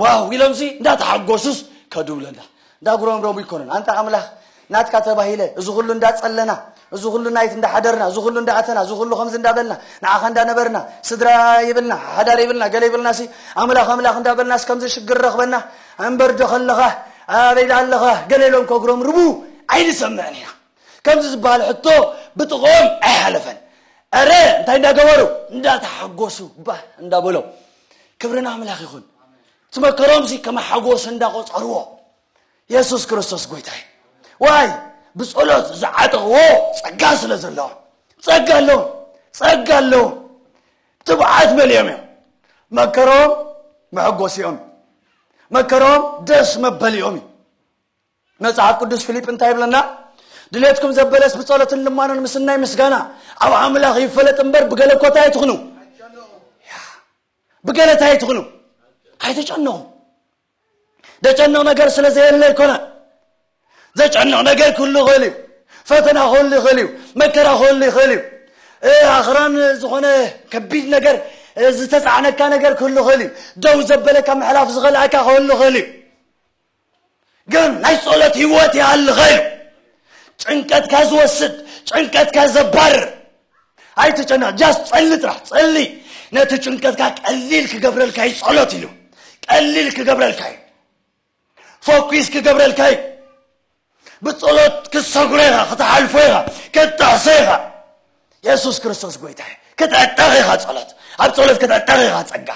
ዋው ኢሎም ሲ እንዳተሓጎሱስ ከዱ ብለና እንዳጉረምረሙ ይኮነን ኣንታ ኣምላኽ ናትካ ተባሂለ እዚ ኩሉ እንዳጸለና እዚ ኩሉ ናይት እንዳሓደርና እዚ ኩሉ እንዳኣተና እዚ ኩሉ ከምዚ እንዳበልና ንዓኻ እንዳነበርና ስድራ ይብልና ሓዳር ይብልና ገለ ይብልናሲ ኣምላኽ ኣምላኽ እንዳበልናስ ከምዚ ሽግር ረኽበና ኣንበር ዶ ከለኻ ኣበይ ዶ ኣለኻ ገለ ኢሎም ከጉረምርሙ ኣይንሰምዕን ኢና ከምዚ ዝበሃል ሕቶ ብጥቕኦም ኣይሓለፈን ኣረ እንታይ እንዳገበሩ እንዳተሓጎሱ ባ እንዳበሎም ክብሪ ንኣምላኽ ይኹን እቲ መከሮምሲ ከም ሓጎስ እንዳቆፀርዎ የሱስ ክርስቶስ ጎይታ እዩ ዋይ ብጸሎት ዝዓጠቕዎ ጸጋ ስለ ዘለዎም ጸጋ ኣለዎም ጸጋ ኣለዎም ትብዓት መሊኦም እዮም መከሮም መሐጎሲኦም እዩ መከሮም ደስ መበሊኦም እዩ መጽሓፍ ቅዱስ ፊልጵ እንታይ ይብለና ድሌትኩም ዘበለስ ብጸሎትን ልማኖን ምስናይ ምስጋና ኣብ ኣምላኽ ይፈለጥ እምበር ብገለ ኮታ ኣይትኹኑ ብገለ እንታይ ኣይትኹኑ ኣይተጨነቑ ደጨንቕ ነገር ስለ ዘየለ ኣይኮነን ዘጨንቕ ነገር ክህሉ ይኽእል እዩ ፈተና ክህሉ ይኽእል እዩ መከራ ክህሉ ይኽእል እዩ ኣኽራን ዝኾነ ከቢድ ነገር ዝተፃዕነካ ነገር ክህሉ ይኽእል እዩ ደው ዘበለካ ምሕላፍ ዝኸልኣካ ክህሉ ይኽእል እዩ ግን ናይ ጸሎት ህይወት ይሃልኸ እዩ ጭንቀትካ ዝወስድ ጭንቀትካ ዘባርር ኣይትጨነቕ ጃስ ጸሊ ጥራሕ ጸሊ ነቲ ጭንቀትካ ቀሊል ክገብረልካ እዩ ጸሎት ኢሉ ቀሊል ክገብረልካ እዩ ፎኪስ ክገብረልካ እዩ ብጸሎት ክትሰጉረ ኢኻ ክትሓልፎ ኢኻ ክትጥሕሶ ኢኻ የሱስ ክርስቶስ ጎይታ እዩ ክትዕጠቕ ኢኻ ጸሎት ኣብ ጸሎት ክትዕጠቕ ኢኻ ጸጋ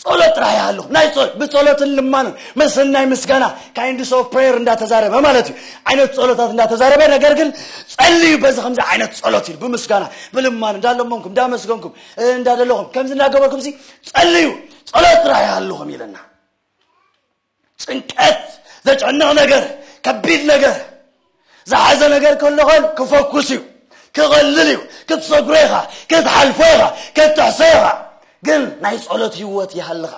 ጸሎት ጥራሕ ይሃሉ ናይ ጸሎት ብጸሎትን ልማንን መሰናይ ምስጋና ካይንድስ ኦፍ ፕሬየር እንዳተዛረበ ማለት እዩ ዓይነት ጸሎታት እንዳተዛረበ ነገር ግን ጸልዩ በዚ ከምዚ ዓይነት ጸሎት እዩ ብምስጋና ብልማን እንዳለመንኩም እንዳመስገንኩም እንዳደለኹም ከምዚ እንዳገበርኩም ሲ ጸልዩ ጸሎት ጥራሕ ይሃልኹም ኢለና ጭንቀት ዘጨንቕ ነገር ከቢድ ነገር ዝሓዘ ነገር ከሎ ኸን ክፈኩስ እዩ ክቐልል እዩ ክትሰግሮ ኢኻ ክትሓልፎ ኢኻ ክትጥሕሶ ኢኻ ግን ናይ ጸሎት ህይወት ይሃልኻ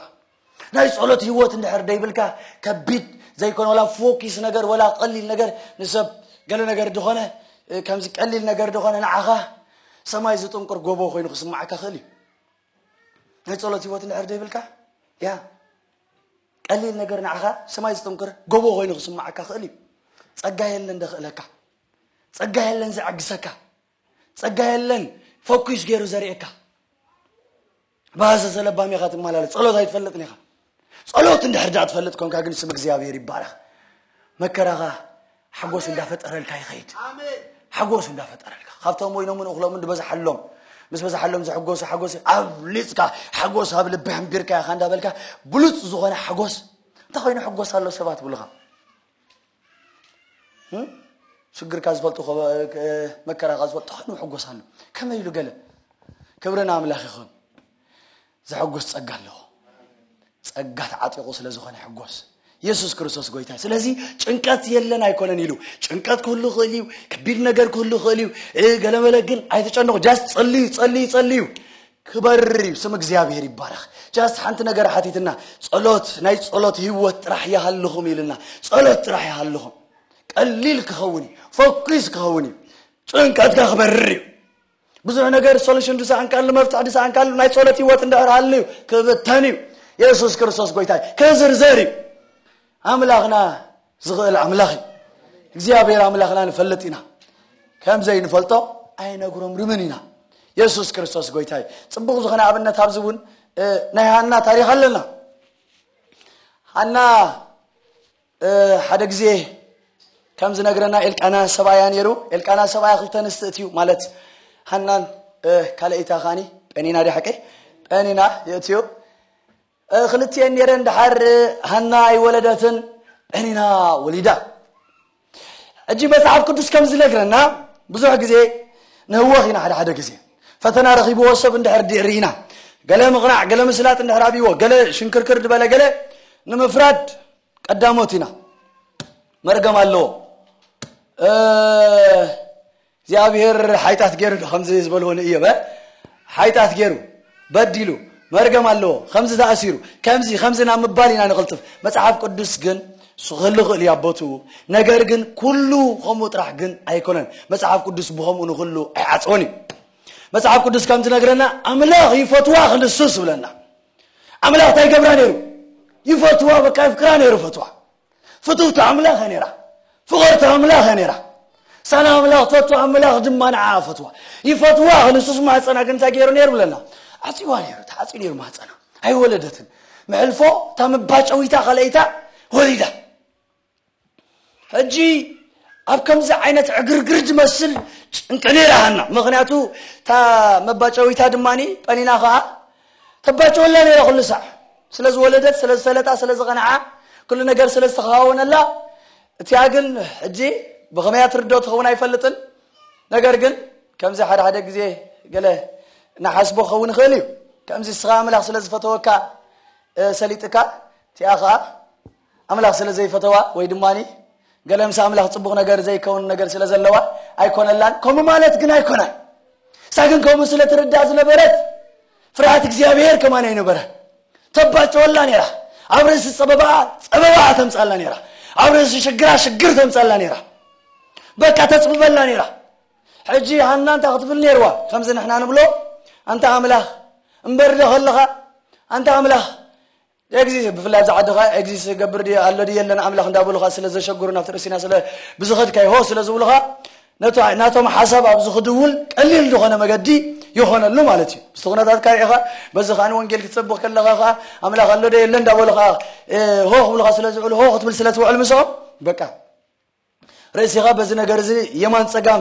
ናይ ጸሎት ህይወት እንድሕር ደይብልካ ከቢድ ዘይኮነ ወላ ፎኪስ ነገር ወላ ቀሊል ነገር ንሰብ ገለ ነገር ድኾነ ከምዚ ቀሊል ነገር ድኾነ ንዓኻ ሰማይ ዝጥንቁር ጎቦ ኮይኑ ክስማዓካ ክእል እዩ ናይ ጸሎት ህይወት እንድሕር ዘይብልካ ያ ቀሊል ነገር ንዓኻ ሰማይ ዝጥንክር ጎቦ ኮይኑ ክስማዓካ ክእል እዩ ጸጋ የለን ደኽእለካ ጸጋ የለን ዘዕግሰካ ጸጋ የለን ፈኲስ ገይሩ ዘርእየካ ብሃሰ ዘለባም ኢኻ ትመላለስ ጸሎት ኣይትፈልጥን ኢኻ ጸሎት እንድሕር ድኣ ትፈልጥ ኮንካ ግን ስም እግዚኣብሔር ይባረኽ መከራኻ ሓጎስ እንዳፈጠረልካ ይኸይድ ሓጎስ እንዳፈጠረልካ ካብቶም ወይኖምን እኽሎምን ዝበዝሓሎም ምስ በዝሓሎም ዝሕጎሱ ሓጎስ ኣብሊፅካ ሓጎስ ኣብ ልቢ ሕንቢርካ ኢኻ እንዳበልካ ብሉፅ ዝኾነ ሓጎስ እንታይ ኮይኑ ሕጎስ ኣሎ ሰባት ብሉኻ ሽግርካ ዝፈልጡ መከራኻ ዝፈልጡ ኮይኑ ሕጎስ ኣሎ ከመይ ኢሉ ገለ ክብርን ኣምላኽ ይኹን ዘሐጉስ ጸጋ ኣለዎ ጸጋ ተዓጢቑ ስለ ዝኾነ ሕጎስ የሱስ ክርስቶስ ጎይታ ስለዚ ጭንቀት የለን ኣይኮነን ኢሉ ጭንቀት ክህሉ ይኽእል እዩ ከቢድ ነገር ክህሉ ይኽእል እዩ ገለመለ ግን ኣይተጨንቑ ጃስ ጸልዩ ጸልዩ ጸልዩ ክበር እዩ ስም እግዚኣብሄር ይባረኽ ጃስ ሓንቲ ነገር ሓቲትና ጸሎት ናይ ጸሎት ህይወት ጥራሕ ይሃልኹም ኢልና ጸሎት ጥራሕ ይሃልኹም ቀሊል ክኸውን እዩ ፎኪስ ክኸውን እዩ ጭንቀትካ ክበርር እዩ ብዙሕ ነገር ሶሉሽን ድሳኣንካሉ መፍትሒ ድሳኣንካሉ ናይ ጸሎት ህይወት እንድሕር ሃልዩ ክብተን እዩ የሱስ ክርስቶስ ጎይታ እዩ ክዝርዘር እዩ ኣምላኽና ዝኽእል ኣምላኽ እዩ እግዚኣብሔር ኣምላኽና ንፈልጥ ኢና ከም ዘይንፈልጦ ኣይነግሮም ርምን ኢና የሱስ ክርስቶስ ጎይታ እዩ ፅቡቕ ዝኾነ ኣብነት ኣብዚ እውን ናይ ሃና ታሪክ ኣለና ሃና ሓደ ግዜ ከም ዝነግረና ኤልቃና ሰብኣያ ነይሩ። ኤልቃና ሰብኣያ ክልተ ኣንስቲ እትዩ ማለት ሃናን ካልኣይታ ካኒ ጴኒና ዲ ሓቀይ ጴኒና የእትዩ ክልትኤን ነይረን ድሓር ሃና ኣይወለደትን ጴኒና ወሊዳ ሕጂ መጽሓፍ ቅዱስ ከም ዝነግረና ብዙሕ ግዜ ንህወኽ ኢና ሓደ ሓደ ግዜ ፈተና ረኺብዎ ሰብ እንድሕር ድር ኢና ገለ ምቕናዕ ገለ ምስላጥ እንድሕር ኣብዎ ገለ ሽንክርክር ዝበለ ገለ ንምፍራድ ቀዳሞት ኢና መርገም ኣለዎ እግዚኣብሔር ሓይታት ገይሩ ዶ ከምዚ ዝበልዎ ንእዮበ ሓይታት ገይሩ በዲሉ መርገም ኣለዎ ከምዚ ተኣሲሩ ከምዚ ከምዚ ናብ ምባል ኢና ንቕልጥፍ መፅሓፍ ቅዱስ ግን ክህሉ ክእል እዩ ኣቦትኡ ነገር ግን ኩሉ ከምኡ ጥራሕ ግን ኣይኮነን መፅሓፍ ቅዱስ ብከምኡ ንክሉ ኣይዓፅወን እዩ መፅሓፍ ቅዱስ ከም ዝነግረና ኣምላኽ ይፈትዋ ክንሱስ ይብለና ኣምላኽ እንታይ ይገብራ ነይሩ ይፈትዋ በቃ የፍቅራ ነይሩ ፈትዋ ፍትውቲ ኣምላኽ እያ ነይራ ፍቕርቲ ኣምላኽ እያ ነይራ ሳና ኣምላኽ ትፈቱ ኣምላኽ ድማ ንዓ ፈትዋ ይፈትዋ ክንሱስ ማህፀና ግን እንታይ ገይሩ ነይሩ ብለና ዓፅዋ ነይሩ ተዓፅዩ ነይሩ ማህፀና ኣይወለደትን መሕልፎ እታ መባጨዊታ ካልኣይታ ወሊዳ ሕጂ ኣብ ከምዚ ዓይነት ዕግርግር ዝመስል ጭንቂ ነይራ ሃና ምክንያቱ እታ መባጨዊታ ድማ ጰኒና ከዓ ተባጭወላ ነይራ ኩሉ ሳዕ ስለ ዝወለደት ስለ ዝሰለጣ ስለ ዝቐንዓ ኩሉ ነገር ስለ ዝተኸዋወነላ እቲኣ ግን ሕጂ ብኸመያ ትርዶ ትኸውን ኣይፈልጥን ነገር ግን ከምዚ ሓደ ሓደ ግዜ ገለ ንሓስቦ ክኸውን ይኽእል እዩ ከምዚ ስኻ ኣምላኽ ስለ ዝፈተወካ ሰሊጥካ እቲኣ ከዓ ኣምላኽ ስለ ዘይፈተዋ ወይ ድማ ገለ ምስ ኣምላኽ ጽቡቕ ነገር ዘይከውን ነገር ስለ ዘለዋ ኣይኮነላን ከምኡ ማለት ግን ኣይኮነን እሳ ግን ከምኡ ስለ ትርዳእ ዝነበረት ፍርሃት እግዚኣብሔር ከማን ኣይነበረ ተባጨወላ ነራ ኣብ ርእሲ ጸበባ ጸበባ ተምጻላ ነራ ኣብ ርእሲ ሽግራ ሽግር ተምጻላ ነራ በቃ ተጽብበላ ነራ ሕጂ ሃና እንታይ ክትብል ነርዋ ከምዚ ንሕና ንብሎ ኣንታ ኣምላኽ እምበር ዶ ከለኻ ኣንታ ኣምላኽ ኤግዚ ብፍላይ ኣብዛ ዓዲ ከኣ ኤግዚ ዝገብር ድዩ ኣሎ ድዩ የለን ኣምላኽ እንዳበሉኻ ስለ ዘሸግሩ ናብቲ ርእሲና ስለ ብዝኸድካዮ ሆ ስለ ዝብሉኻ ነቲ ናቶም ሓሳብ ኣብ ዝኽድውል ቀሊል ዝኾነ መገዲ ይኾነሉ ማለት እዩ ምስቲ ኩነታት ካል ኢኻ በዚ ከዓ ወንጌል ክትሰብኽ ከለኻ ከዓ ኣምላኽ ኣሎ ዶ የለ እንዳበሉ ከዓ ሆ ክብሉኻ ስለ ዝውዕሉ ሆ ክትብል ስለ ትውዕል ምስኦም በቃ ርእሲኻ በዚ ነገር እዚ የማን ጸጋም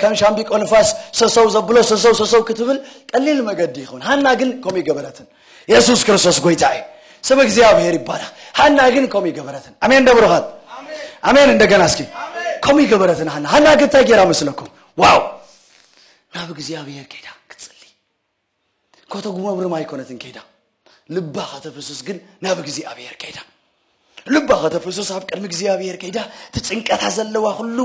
ከም ሻምቢቆ ንፋስ ሰሰው ዘብሎ ሰሰው ሰሰው ክትብል ቀሊል መገዲ ይኸውን ሃና ግን ከምኡ ይገበረትን የሱስ ክርስቶስ ጎይታ እዩ ስም እግዚኣብሔር ይባረክ ሃና ግን ከምኡ ይገበረትን ኣሜን ደብሩኻት ኣሜን እንደገና እስኪ ከምኡ ይገበረትን ሃና ሃና ግን እንታይ ጌራ መስለኩም ዋው ናብ እግዚኣብሔር ከይዳ ክትጽሊ ከተጉመብርም ኣይኮነትን ከይዳ ልባ ከተፍስስ ግን ናብ እግዚኣብሔር ከይዳ ልባ ከተፍስስ ኣብ ቅድሚ እግዚኣብሔር ከይዳ እቲ ጭንቀታ ዘለዋ ኩሉ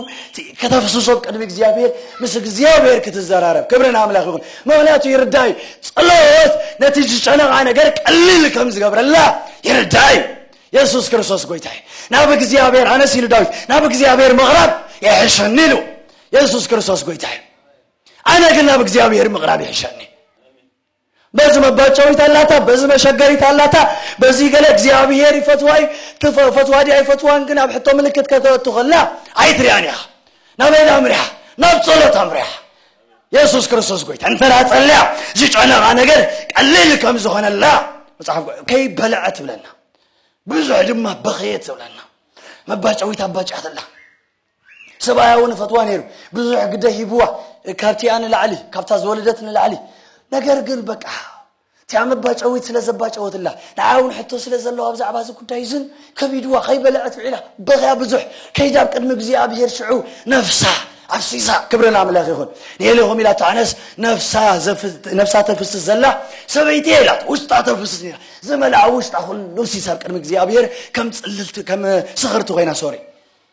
ከተፍስሶ ኣብ ቅድሚ እግዚኣብሔር ምስ እግዚኣብሔር ክትዘራረብ ክብሪ ንኣምላኽ ይኹን ምክንያቱ ይርዳ እዩ ጸሎት ነቲ ዝጨነቓ ነገር ቀሊል ከም ዝገብረላ ይርዳ እዩ የሱስ ክርስቶስ ጎይታ እዩ ናብ እግዚኣብሔር ኣነስ ኢሉ ዳዊት ናብ እግዚኣብሔር ምቕራብ የሕሸኒ ኢሉ የሱስ ክርስቶስ ጎይታ እዩ ኣነ ግን ናብ እግዚኣብሔር ምቕራብ ይሕሸኒ በዚ መባጨዊት ኣላታ በዚ መሸገሪት ኣላታ በዚ ገለ እግዚኣብሔር ይፈትዋ እዩ ፈትዋ ድያ ይፈትዋን ግን ኣብ ሕቶ ምልክት ከተእቱ ከላ ኣይትሪኣን ኢኻ ናበይ ዳ ኣምሪሓ ናብ ጸሎት ኣምሪሓ የሱስ ክርስቶስ ጎይታ እንተ ጸልያ ዝጨነቓ ነገር ቀሊል ከም ዝኾነላ መጽሓፍ ከይበልዐ ትብለና ብዙሕ ድማ በኸየ ትብለና መባጨዊት ኣባጭያትላ ሰብኣያ እውን ይፈትዋ ነይሩ ብዙሕ ግደ ሂብዋ ካብቲኣ ንላዕሊ ካብታ ዝወለደት ንላዕሊ ነገር ግን በቃ እቲኣ መባጨዊት ስለ ዘባጨወትላ ንዓ እውን ሕቶ ስለ ዘለዋ ብዛዕባ እዚ ጉዳይ እዝን ከቢድዋ ከይበለዐት ውዒላ በኽያ ብዙሕ ከይዳ ኣብ ቅድሚ እግዚኣብሄር ሽዑ ነፍሳ ኣፍሲሳ ክብሪ ንኣምላኽ ይኹን ንኤሌኹም ኢላ ተዓነስ ነፍሳ ተፍስስ ዘላ ሰበይቲ ኢላ ውሽጣ ተፍስስ ኒራ ዝመልኣ ውሽጣ ኩሉ ሲስ ኣብ ቅድሚ እግዚኣብሔር ከም ፅልልቲ ከም ስኽርቲ ኮይና ሶሪ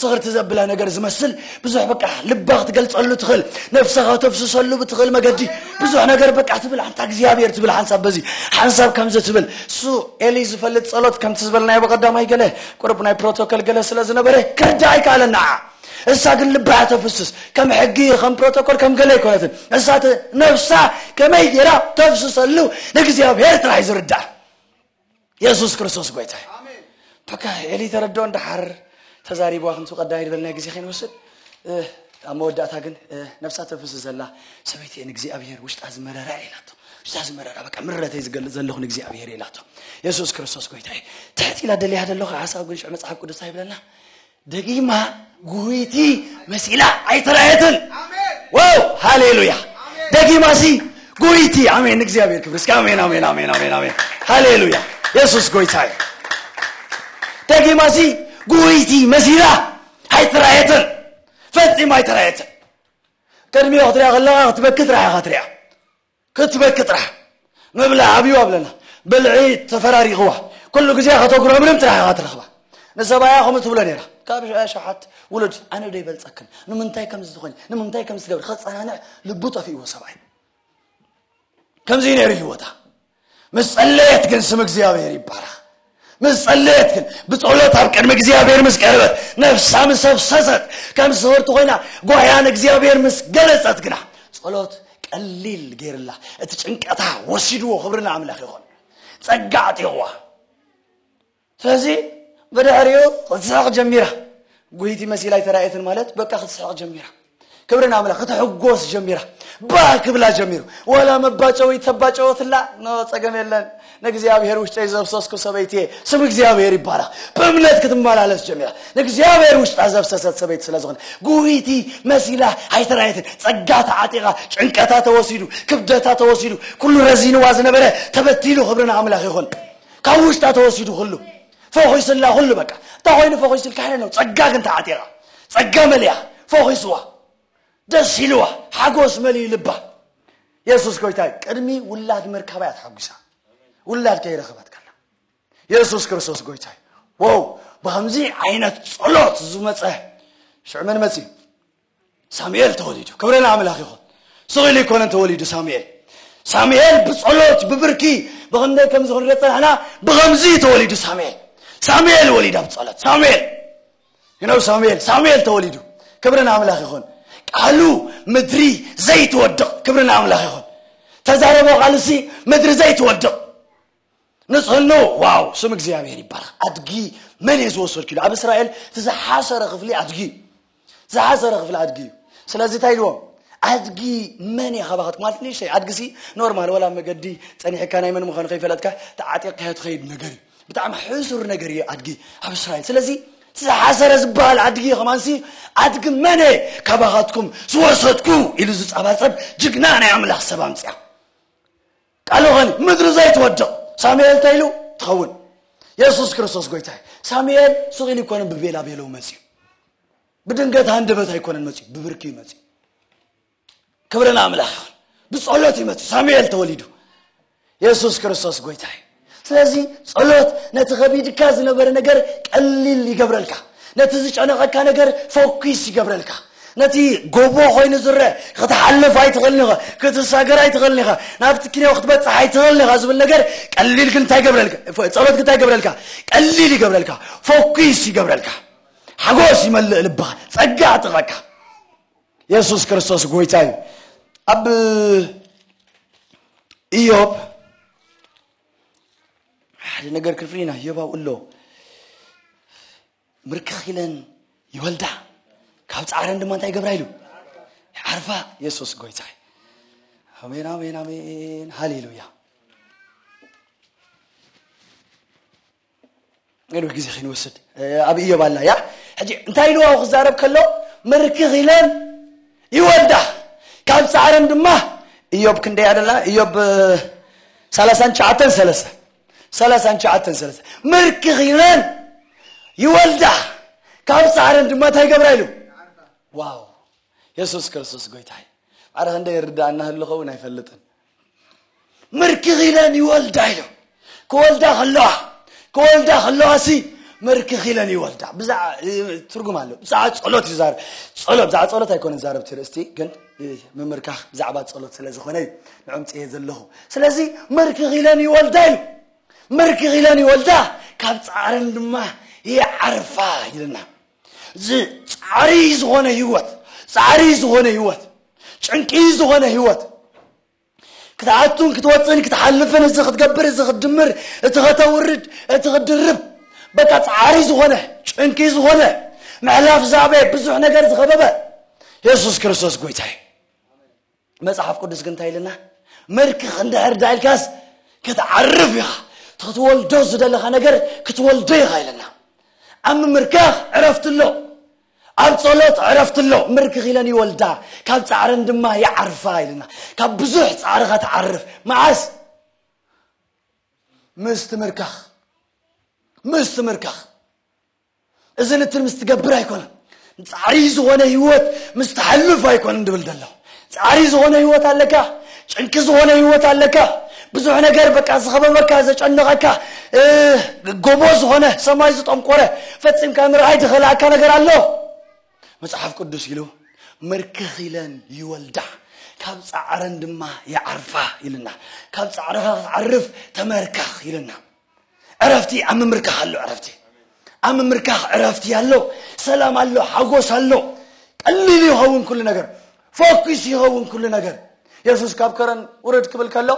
ስኽርቲ ዘብላ ነገር ዝመስል ብዙሕ በቃ ልባ ክትገልጸሉ ትኽእል ነፍሰኻ ተፍስሰሉ ብትኽእል መገዲ ብዙሕ ነገር በቃ ትብል ኣንታ እግዚኣብሔር ትብል ሓንሳብ በዚ ሓንሳብ ከምዚ ትብል እሱ ኤሊ ዝፈልጥ ጸሎት ከምቲ ዝበልናዮ ብቐዳማይ ገለ ቁርብ ናይ ፕሮቶኮል ገለ ስለ ዝነበረ ክርዳእ ኣይከኣለን ንዓ እሳ ግን ልባ እያ ተፍስስ ከም ሕጊ ከም ፕሮቶኮል ከም ገለ ኣይኮነትን እሳ ነፍሳ ከመይ ጌራ ተፍስሰሉ ንእግዚኣብሔር ጥራሕ ዝርዳእ የሱስ ክርስቶስ ጎይታ በቃ ኤሊ ተረድኦ እንዳሓር ተዛሪብዋ ክንቱ ቀዳይ ዝበል ናይ ግዜ ከይንወስድ ኣብ መወዳእታ ግን ነብሳ ተፍስ ዘላ ሰበይቲ እየ ንእግዚኣብሄር ውሽጣ ዝመረራ ኢላቶ ውሽጣ ዝመረራ በቃ ምረተይ ዝገልፅ ዘለኹ ንእግዚኣብሄር ኢላቶ የሱስ ክርስቶስ ጎይታ እዩ ትሕት ኢላ ደልያ ዘለኹ ሓሳብ ግን ሽዑ መፅሓፍ ቅዱስ ይብለና ደጊማ ጉህይቲ መሲላ ኣይተራየትን ዋው ሃሌሉያ ደጊማ ሲ ጉህይቲ ኣሜን ንእግዚኣብሔር ክብሪ እስኪ ኣሜን ኣሜን ኣሜን ኣሜን ኣሜን ሃሌሉያ የሱስ ጎይታ እዩ ደጊማ ሲ ጉህይቲ መሲላ ኣይተራየትን ፈጺማ ኣይተራየትን ቅድሚኦ ክትሪያ ከለካ ክትበኪ ጥራሕ ኢካ ትሪያ ክትበኪ ጥራሕ ምብላዕ ኣብዩ ኣብለላ ብልዒ ተፈራሪቅዋ ኩሉ ግዜ ከተጉረምርም ጥራሕ ኢካ ትረክባ ንሰብኣያ ከምኡ ትብሎ ነይራ ካብ ኣሽሓት ውሉድ ኣነ ዶ ይበልፀክን ንምንታይ ከምዚ ትኾኒ ንምንታይ ከምዚ ትገብሪ ከፀናንዕ ልቡ ጠፊእዎ ሰብኣይ ከምዚ ነይሩ ህይወታ ምስ ጸለየት ግን ስም እግዚኣብሔር ይባረኽ ምስ ጸለየት ግን ብጸሎት ኣብ ቅድሚ እግዚኣብሔር ምስ ቀረበት ነፍሳ ምስ ኣፍሰሰት ከም ስህርቲ ኮይና ጓያ ንእግዚኣብሔር ምስ ገለጸት ግና ጸሎት ቀሊል ገይርላ እቲ ጭንቀታ ወሲድዎ ክብሪ ንኣምላኽ ይኹን ጸጋ ኣዕጢቕዋ ስለዚ ብድሕሪኡ ክትስሕቕ ጀሚራ ጉይቲ መሲላ ኣይተራእየትን ማለት በቃ ክትስሕቕ ጀሚራ ክብሪ ንኣምላኽ ክትሕጎስ ጀሚራ ባህ ክብላ ጀሚሩ ዋላ መባጨዊ ተባጨወትላ ኖ ጸገም የለን ንእግዚኣብሔር ውሽጠይ ዘብሰስኩ ሰበይቲ እየ ስም እግዚኣብሔር ይባረኽ ብእምነት ክትመላለስ ጀሚራ ንእግዚኣብሔር ውሽጣ ዘብሰሰት ሰበይቲ ስለ ዝኾነ ጉይቲ መሲላ ኣይተራየትን ጸጋ ተዓጢቓ ጭንቀታ ተወሲዱ ክብደታ ተወሲዱ ኩሉ ረዚንዋ ዝነበረ ተበቲሉ ክብሪ ንኣምላኽ ይኹን ካብ ውሽጣ ተወሲዱ ኩሉ ፈኺሱላ ኩሉ በቃ እንታይ ኮይኑ ፈኺሱልካ ኢለ ነው ጸጋ ግን ተዓጢቓ ጸጋ መሊኣ ፈኺሱዋ ደስ ኢልዋ ሓጎስ መሊኡ ልባ የሱስ ጎይታይ ቅድሚ ውላድ ምርካባ እያ ተሓጒሳ ውላድ ከይረኸበት ከላ የሱስ ክርስቶስ ጎይታይ ወው ብከምዚ ዓይነት ጸሎት ዝመፀ ሽዑ መን መፅዩ ሳሙኤል ተወሊዱ ክብሪ ንኣምላኽ ይኹን ስቕ ኢሉ ኣይኮነን ተወሊዱ ሳሙኤል ሳሙኤል ብጸሎት ብብርኪ ብኸምደይ ከምዚ ክንሪኦ ጸናሕና ብኸምዚ እዩ ተወሊዱ ሳሙኤል ሳሙኤል ወሊዳ ብጸሎት ሳሙኤል ይነው ሳሙኤል ሳሙኤል ተወሊዱ ክብሪ ንኣምላኽ ይኹን ቃሉ ምድሪ ዘይትወድቕ ክብሪ ንኣምላኽ ይኹን ተዛረቦ ቃልሲ ምድሪ ዘይትወድቕ ንጽህኖ ዋው ስም እግዚኣብሔር ይባረክ ኣድጊ መን እየ ዝወሰድኩ ኢሉ ኣብ እስራኤል እቲ ዝሓሰረ ክፍሊ ኣድጊ እዩ ዝሓሰረ ክፍሊ ኣድጊ እዩ ስለዚ እንታይ ኢልዎም ኣድጊ መን እየ ካባኻት ማለት ንእሽተይ ኣድጊ ሲ ኖርማል ወላ መገዲ ፀኒሕካ ናይ መን ምዃኑ ከይፈለጥካ ተዓጢቕካዮ ትኸይድ ነገር እዩ ብጣዕሚ ሕሱር ነገር እዩ ኣድጊ ኣብ እስራኤል ስለዚ እቲ ዝሓሰረ ዝበሃል ኣድጊ ከማንሲ ኣድጊ መን እየ ካባኻትኩም ዝወሰድኩ ኢሉ ዝፀባፀብ ጅግና ናይ ኣምላኽ ሰብ ኣምፅያ ቃሉ ኸኒ ምድሪ ዘይትወድቕ ሳሙኤል እንታይ ኢሉ ትኸውን የሱስ ክርስቶስ ጎይታ እዩ ሳሙኤል ሱቕ ኢሉ ኣይኮነን ብቤላ ቤለው መፅዩ ብድንገት ሃንደበት ኣይኮነን መፅዩ ብብርኪ እዩ መፅዩ ክብሪ ንኣምላኽ ይኹን ብጸሎት እዩ መፅዩ ሳሙኤል ተወሊዱ የሱስ ክርስቶስ ጎይታ እዩ ስለዚ ጸሎት ነቲ ከቢድካ ዝነበረ ነገር ቀሊል ይገብረልካ ነቲ ዝጨነቐካ ነገር ፎኪስ ይገብረልካ። ነቲ ጎቦ ኮይኑ ዝረእ ክትሓልፍ ኣይትኽእልን ኢኻ፣ ክትሳገር ኣይትኽእልን ኢኻ፣ ናብቲ ኪንዮ ክትበጽሕ ኣይትኽእልን ኢኻ ዝብል ነገር ቀሊል ግን እንታይ ይገብረልካ ጸሎት ግን እንታይ ይገብረልካ ቀሊል ይገብረልካ ፎኪስ ይገብረልካ ሓጎስ ይመልእ ልብኻ ጸጋ ኣጥቐካ የሱስ ክርስቶስ ጎይታ እዩ ኣብ ኢዮብ ሓደ ነገር ክንፍሊና ህዮባው እሎ ምርክኽ ኢለን ይወልዳ ካብ ፃዕረን ድማ እንታይ ይገብራ ኢሉ ዓርፋ የሱስ ጎይታ ኣሜን ኣሜን ኣሜን ሃሌሉያ ገለ ግዜ ከይንወስድ ኣብ እዮብ ኣላ እያ ሕጂ እንታይ ኢልዋ ክዛረብ ከሎ ምርክኽ ኢለን ይወልዳ ካብ ፃዕረን ድማ እዮብ ክንደይ ኣደላ እዮብ ሰላሳን ሸዓተን ሰለስተ ሰላሳን ሸዓተን ሰለስተ ምርክኽ ኢለን ይወልዳ ካብ ፃዕረን ድማ እንታይ ገብራ ኢሉ ዋው የሱስ ክርስቶስ ጎይታ እዩ ማዕረ ክንደይ ይርዳእና ህልኸውን ኣይፈልጥን ምርክኺለን ይወልዳ ኢሎ ክወልዳ ከለዋ ክወልዳ ከለዋ ሲ ምርክኺለን ይወልዳ ብዛዕ ትርጉም ኣሎ ብዛዕባ ጸሎት እዩ ዛር ጸሎት ብዛዕባ ጸሎት ኣይኮነ ዛረብ እቲ ርእስቲ ግን ምምርካኽ ብዛዕባ ጸሎት ስለ ዝኾነ እዩ ንዕምፅየ ዘለኹ ስለዚ ምርክኺለን ይወልዳ ኢሉ ምርክኺለን ይወልዳ ካብ ጻዕረን ድማ ይዓርፋ ይልና እዚ ጻዕሪ ዝኾነ ህይወት ጻዕሪ ዝኾነ ህይወት ጭንቂ ዝኾነ ህይወት ክትኣቱን ክትወፅእን ክትሓልፍን እዚ ክትገብር እዚ ክትድምር እቲ ከተውርድ እቲ ክትድርብ በቃ ጻዕሪ ዝኾነ ጭንቂ ዝኾነ ምሕላፍ ዛበየ ብዙሕ ነገር ዝኸበበ የሱስ ክርስቶስ ጎይታ እዩ መጽሓፍ ቅዱስ ግን እንታይ ኢልና መርክኽ እንድሕር ዳ ኢልካስ ክትዓርፍ ኢኻ ክትወልዶ ዝደለኻ ነገር ክትወልዶ ኢኻ ኢለና ኣብ ምምርካኽ ዕረፍቲ ኣሎ ኣብ ጸሎት ዕረፍቲ ኣሎ ምርክኽ ኢለን ይወልዳ ካብ ጻዕረን ድማ ይዓርፋ ኢልና ካብ ብዙሕ ጻዕርኻ ትዓርፍ መዓስ ምስ ትምርካኽ ምስ ትምርካኽ እዚ ንትን ምስ ትገብር ኣይኮነን ጻዕሪ ዝኾነ ህይወት ምስ ተሐልፍ ኣይኮነን ድብል ደለኹ ጻዕሪ ዝኾነ ህይወት ኣለካ ጭንቂ ዝኾነ ህይወት ኣለካ ብዙሕ ነገር በቃ ዝኸበበካ ዘጨነቐካ ጎቦ ዝኾነ ሰማይ ዝጠንቆረ ፈጺምካ ምርኣይ ዝኸልኣካ ነገር ኣሎ መጽሓፍ ቅዱስ ኢሉ ምርክኽ ኢለን ይወልዳ ካብ ጻዕረን ድማ ይዓርፋ ኢልና ካብ ጻዕርኻ ክትዓርፍ ተመርካኽ ኢልና ዕረፍቲ ኣብ ምምርካኽ ኣሎ ዕረፍቲ ኣብ ምምርካኽ ዕረፍቲ ኣሎ ሰላም ኣሎ ሓጎስ ኣሎ ቀሊል ይኸውን ኩሉ ነገር ፎኪስ ይኸውን ኩሉ ነገር የሱስ ካብ ከረን ውረድ ክብል ከሎ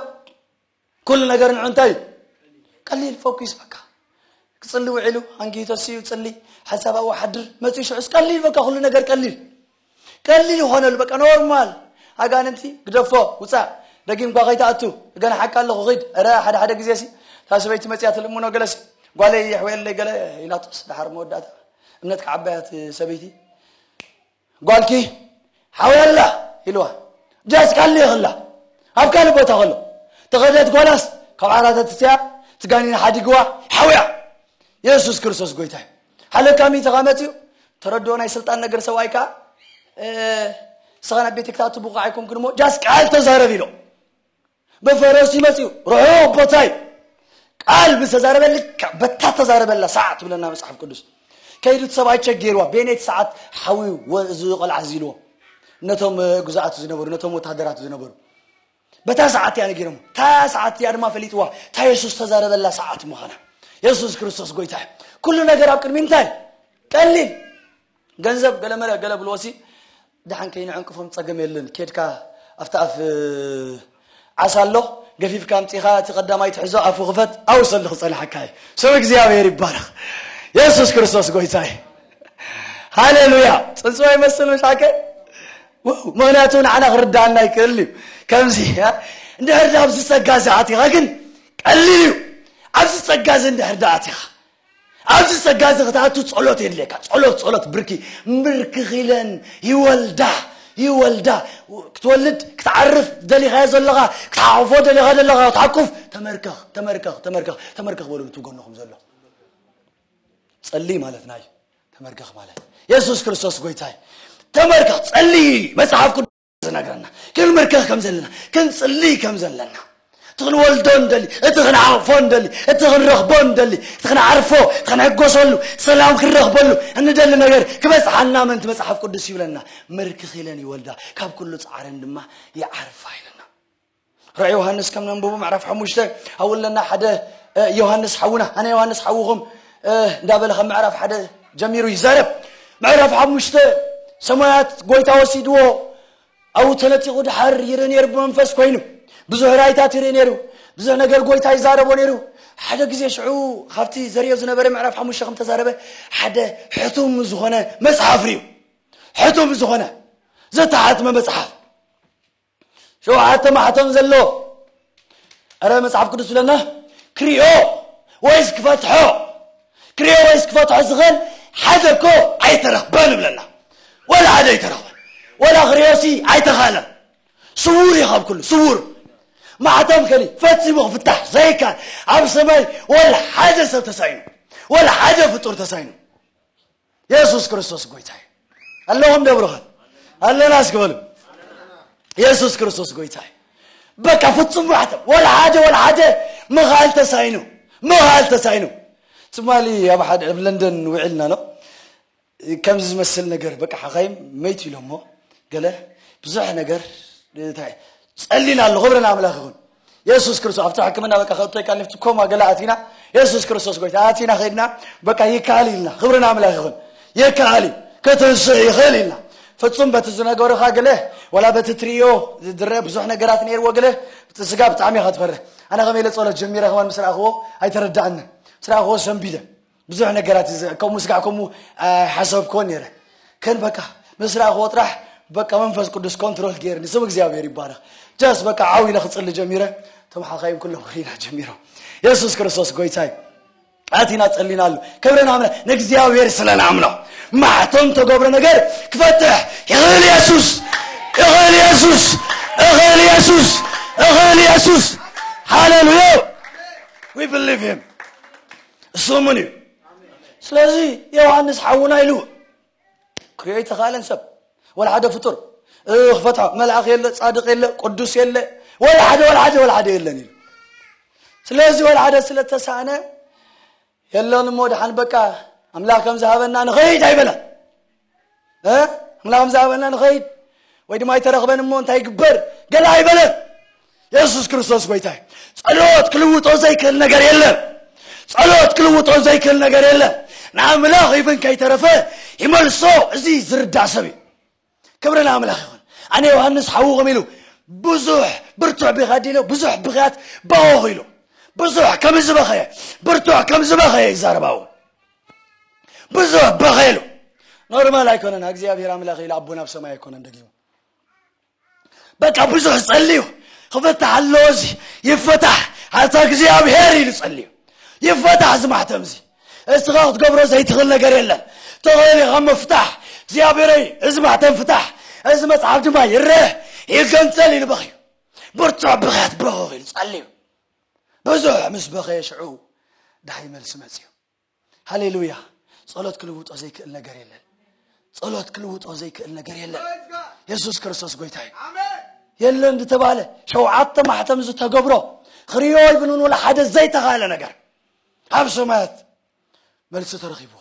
ኩሉ ነገር ንዑ እንታይ እዩ ቀሊል ፎኪስ በቃ ክፅሊ ውዒሉ ኣንጊ ተስኡ ፅሊ ሓሳብ ኣወሓድር መፅኡ ሽዑስ ቀሊል በቃ ኩሉ ነገር ቀሊል ቀሊል ይኾነሉ በቃ ኖርማል ኣጋንንቲ ግደፎ ውፃእ ደጊምኳ ከይትኣቱ ገና ሓቂ ኣለኹ ኺድ እረ ሓደ ሓደ ግዜ ሲ እታ ሰበይቲ መፅያ ትልምኖ ገለ ሲ ጓለይ የሕወየለይ ገለ ኢላቶስ ድሓር መወዳእታ እምነት ክዓበያት ሰበይቲ ጓልኪ ሓወይ ኣላ ኢልዋ ጃስ ካሊ ይኽላ ኣብ ካልእ ቦታ ከሎ ተኸደት ጓላስ ካብ ዓራተትትያ ትጋኒን ሓዲግዋ ሓውያ የሱስ ክርስቶስ ጎይታ እዩ ሃለካ ሚእቲ ኸመት እዩ ተረድኦ ናይ ስልጣን ነገር ሰብኣይ ከዓ ስኻ ናብ ቤት ክታቱ ብቑዕ ኣይኮንክን እሞ ጃስ ቃል ተዛረብ ኢሎ ብፈረሱ ይመፅዩ ርሑቕ ቦታ እዩ ቃል ብዝተዛረበ ልክዕ በታ ተዛረበላ ሰዓት ትብለና መፅሓፍ ቅዱስ ከይዱ እቲ ሰብኣይ ቸጌርዋ ቤኔት ሰዓት ሓዊ እዚ ቆልዓ እዚ ኢልዎ ነቶም ግዛኣቱ ዝነበሩ ነቶም ወታደራቱ ዝነበሩ በታ ሰዓት እያ ነጊሮሞ። እታ ሰዓት እቲኣ ድማ ፈሊጥዋ፣ እታ የሱስ ዝተዛረበላ ሰዓት ምዃና። የሱስ ክርስቶስ ጐይታ እዩ። ኩሉ ነገር ኣብ ቅድሚ እንታይ ቀሊል ገንዘብ ገለ መለ ገለ ብልዎሲ ድሓን ከይንዕንቅፎም ጸገም የለን ኬድካ ኣብቲ ኣፍ ዓሳ ኣሎ ገፊፍካ ኣምፂኻ እቲ ቀዳማይ ትሕዞ ኣፉ ክፈት ኣውሰሉ ክፀናሓካ እዩ ስም እግዚኣብሔር ይባረኽ የሱስ ክርስቶስ ጎይታ እዩ ሃሌሉያ ፅንፅወ ይመስል መሻከ ዋው ምክንያቱ ንዓና ክርዳኣና ኣይክእልን እዩ ከምዚ እንድሕር ዳ ኣብዚ ጸጋ እዚ ኣቲኻ ግን ቀሊል እዩ ኣብዚ ጸጋ እዚ እንድሕር ዳ ኣቲኻ ኣብዚ ጸጋ እዚ ክትኣቱ ጸሎት የድልየካ ጸሎት ጸሎት ብርኪ ምብርክኽ ኢለን ይወልዳ ይወልዳ ክትወልድ ክትዓርፍ ደሊኻዮ ዘለኻ ክትሓቑፎ ደሊኻ ዘለኻ ክትሓቁፍ ተመርከኽ ተመርከኽ ተመርከኽ ተመርከኽ በሉ እቲ ጎንኹም ዘሎ ጸልይ ማለት ናይ ተመርገኽ ማለት የሱስ ክርስቶስ ጎይታይ ተመርገኽ ጸልይ መጽሓፍ ቅዱስ ዝነግረና ክንምርከኽ ከም ዘለና ክንጽልይ ከም ዘለና እቲ ክንወልዶ ንደሊ እቲ ክንዓቕፎ ንደሊ እቲ ክንረኽቦ ንደሊ እቲ ክንዓርፎ እቲ ክንሕጎሰሉ ሰላም ክንረኽበሉ እንደሊ ነገር ክበጽሓልና ምእንቲ መጽሓፍ ቅዱስ ይብለና ምርክኽ ኢለን ይወልዳ ካብ ኩሉ ጻዕረን ድማ ይዓርፋ ኢለና ራእይ ዮሃንስ ከም ነንብቡ ምዕራፍ ሓሙሽተ ኣብለና ሓደ ዮሃንስ ሓውና ኣነ ዮሃንስ ሓውኹም እንዳበለ ከም ምዕራፍ ሓደ ጀሚሩ ይዛረብ ምዕራፍ ሓሙሽተ ሰማያት ጎይታ ወሲድዎ ኣብኡ ተነጢቑ ድሓር ይርኢ ነይሩ ብመንፈስ ኮይኑ ብዙሕ ራይታት ይርኢ ነይሩ ብዙሕ ነገር ጎይታ ይዛረቦ ነይሩ ሓደ ግዜ ሽዑ ካብቲ ዘርዮ ዝነበረ ምዕራፍ ሓሙሽተ ከም ተዛረበ ሓደ ሕቱም ዝኾነ መፅሓፍ ርዩ ሕቱም ዝኾነ ዘተሓትመ መፅሓፍ ሸውዓተ ማሕተም ዘለዎ እረ መጽሓፍ ቅዱስ ዝብለና ክሪኦ ወይስ ክፈትሖ ክሪኦ ወይስ ክፈትሖ ዝኽእል ሓደ እኮ ኣይተረኽበን ይብለና ወላ ሓደ ኣይተረኽበን ወላ ክሪኦሲ ኣይተኻለን ስውር እዩ ካብ ኩሉ ስውር ማዕተብ ከሊ ፈጺሙ ክፍታሕ ዘይካል ኣብ ሰማይ ወላ ሓደ ሰብ ተሳይኑ ወላ ሓደ ፍጡር ተሳይኑ የሱስ ክርስቶስ ጎይታ እዩ ኣለኹም ደብርኸን ኣለና እስኪ በሉ የሱስ ክርስቶስ ጎይታ እዩ በቃ ፍጹም ማሕተም ወላ ሓደ ወላ ሓደ ምኻል ተሳይኑ ምኻል ተሳይኑ ትማሊ ኣብ ሓደ ኣብ ለንደን ውዒልና ኣሎ ከምዚ ዝመስል ነገር በቃ ሓኻይም መይት ኢሎሞ ገለ ብዙሕ ነገር ጸሊና ኣለኹ ብረን ኣምላኽ ይኹን የሱስ ክርስቶስ ኣብቲ ሕክምና በቃ ከእቶይ ቃል ንፍቲ ኮማ ገላ ኣቲና የሱስ ክርስቶስ ጎይታ ኣቲና ከድና በቃ ይከኣል ኢልና ክብሪ ንኣምላኽ ይኹን ይከኣል እዩ ከተንስእ ይኽእል ኢልና ፍጹም በቲ ዝነገሩኻ ግለ ወላ በቲ ትርእዮ ዝድረእ ብዙሕ ነገራት ነይርዎ ግለ እቲ ስጋ ብጣዕሚ ኢኻ ትፈርህ ኣነ ከመይ ኢለ ጸሎት ጀሚረ ከማን ምስ ረኣኽዎ ኣይተረዳእንን ምስ ረኣኽዎ ሰንቢደ ብዙሕ ነገራት እዚ ከምኡ ስጋዕ ከምኡ ሓሰብኮን ነረ ከን በቃ ምስ ረኣኽዎ ጥራሕ በቃ መንፈስ ቅዱስ ኮንትሮል ገይርኒ ስም እግዚኣብሔር ይባረኽ ጃስ በቃ ዓው ኢለ ክፅሊ ጀሚረ እቶም ሓኻይም ኩሎም ክሪና ጀሚሮም የሱስ ክርስቶስ ጎይታ እዩ ኣቲና ጸሊና ኣሎ ክብርን ኣምና ንእግዚኣብሔር ስለ ንኣምኖ ማሕተም ተገብረ ነገር ክፈትሕ ይኽእል የሱስ ይኽእል የሱስ ይኽእል የሱስ ይኽእል የሱስ ሃሌሉያ ዊ ብሊቭ ሂም እሱምን እዩ ስለዚ ዮሃንስ ሓውና ኢሉ ክሪኦ ይተኻእለን ሰብ ወላ ሓደ ፍጡር ክፈትሖ መልኣኽ የለ ፃድቅ የለ ቅዱስ የለ ወላ ሓደ ወላ ሓደ ወላ ሓደ የለን ኢሉ ስለዚ ወላ ሓደ ስለተሳእነ የለን እሞ ድሓን በቃ ኣምላኽ ከም ዝሃበና ንኸይድ ኣይበለን ኣምላኽ ምዝሃበና ንኸይድ ወይ ድማ ኣይተረኽበን እሞ እንታይ ይግበር ገለ ኣይበለን የሱስ ክርስቶስ ጎይታ እዩ ጸሎት ክልውጦ ዘይክእል ነገር የለን ጸሎት ክልውጦ ዘይክእል ነገር የለን ንኣምላኽ ይብን ከይተረፈ ይመልሶ እዚ ዝርዳእ ሰብ እዩ ክብሪ ንኣምላኽ ይኹን ኣነ ዮሃንስ ሓውኹም ኢሉ ብዙሕ ብርቱዕ ቢኻ ዲሎ ብዙሕ ብኽያት ባወኽ ኢሉ ብዙሕ ከም ዝበኸየ ብርቱዕ ከም ዝበኸየ ይዛረባው ብዙሕ በኼሉ ኖርማል ኣይኮነን እግዚኣብሔር ኣምላኽ ኢሉ ኣቦና ኣብ ሰማይ ኣይኮነን ደጊሙ በቃ ብዙሕ ጸልዩ ክፈታሕ ኣለዎ እዚ ይፈታሕ ኣታ እግዚኣብሔር ኢሉ ጸልዩ ይፈታሕ እዚ ማሕተም እዚ እስኻ ክትገብሮ ዘይትኽእል ነገር የለን ተኽእል ኢኻ ምፍታሕ እግዚኣብሔረይ እዚ ማሕተም ፍታሕ እዚ መጽሓፍ ድማ ይረአ ይገንጸል ኢሉ በኽዩ ብርቱዕ ብኽያት በኸኽ ኢሉ ጸልዩ ብዙሕ ምስ በኸየ ሽዑ ዳሃይ መልሲ መጽዩ ሃሌሉያ ጸሎት ክልውጦ ዘይክእል ነገር የለን ጸሎት ክልውጦ ዘይክእል ነገር የለን የሱስ ክርስቶስ ጎይታ እዩ የለን ዝተባህለ ሸውዓተ ማሕተም ዝተገብሮ ክሪዮ ይብልን ወላ ሓደ ዘይተኻለ ነገር ኣብ ሰማያት መልሲ ተረኺብዎ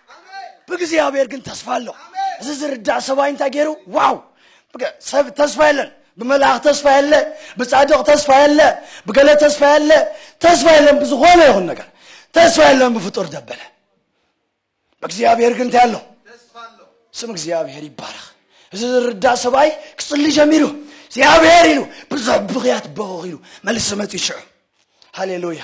ብእግዚኣብሔር ግን ተስፋ ኣሎ እዚ ዝርዳእ ሰብኣይ እንታይ ገይሩ ዋው ብገ- ሰብ ተስፋ የለን ብመልኣኽ ተስፋ የለ ብጻድቕ ተስፋ የለ ብገለ ተስፋ የለ ተስፋ የለን ብዝኾነ ይኹን ነገር ተስፋ የለን ብፍጡር ደበለ ብእግዚኣብሔር ግን እንታይ ኣሎ ስም እግዚኣብሔር ይባረኽ እዚ ዝርዳእ ሰብኣይ ክፅሊ ጀሚሩ እግዚኣብሔር ኢሉ ብዙሕ ብኽያት በኹኽ ኢሉ መልሲ መፅኡ ሽዑ ሃሌሉያ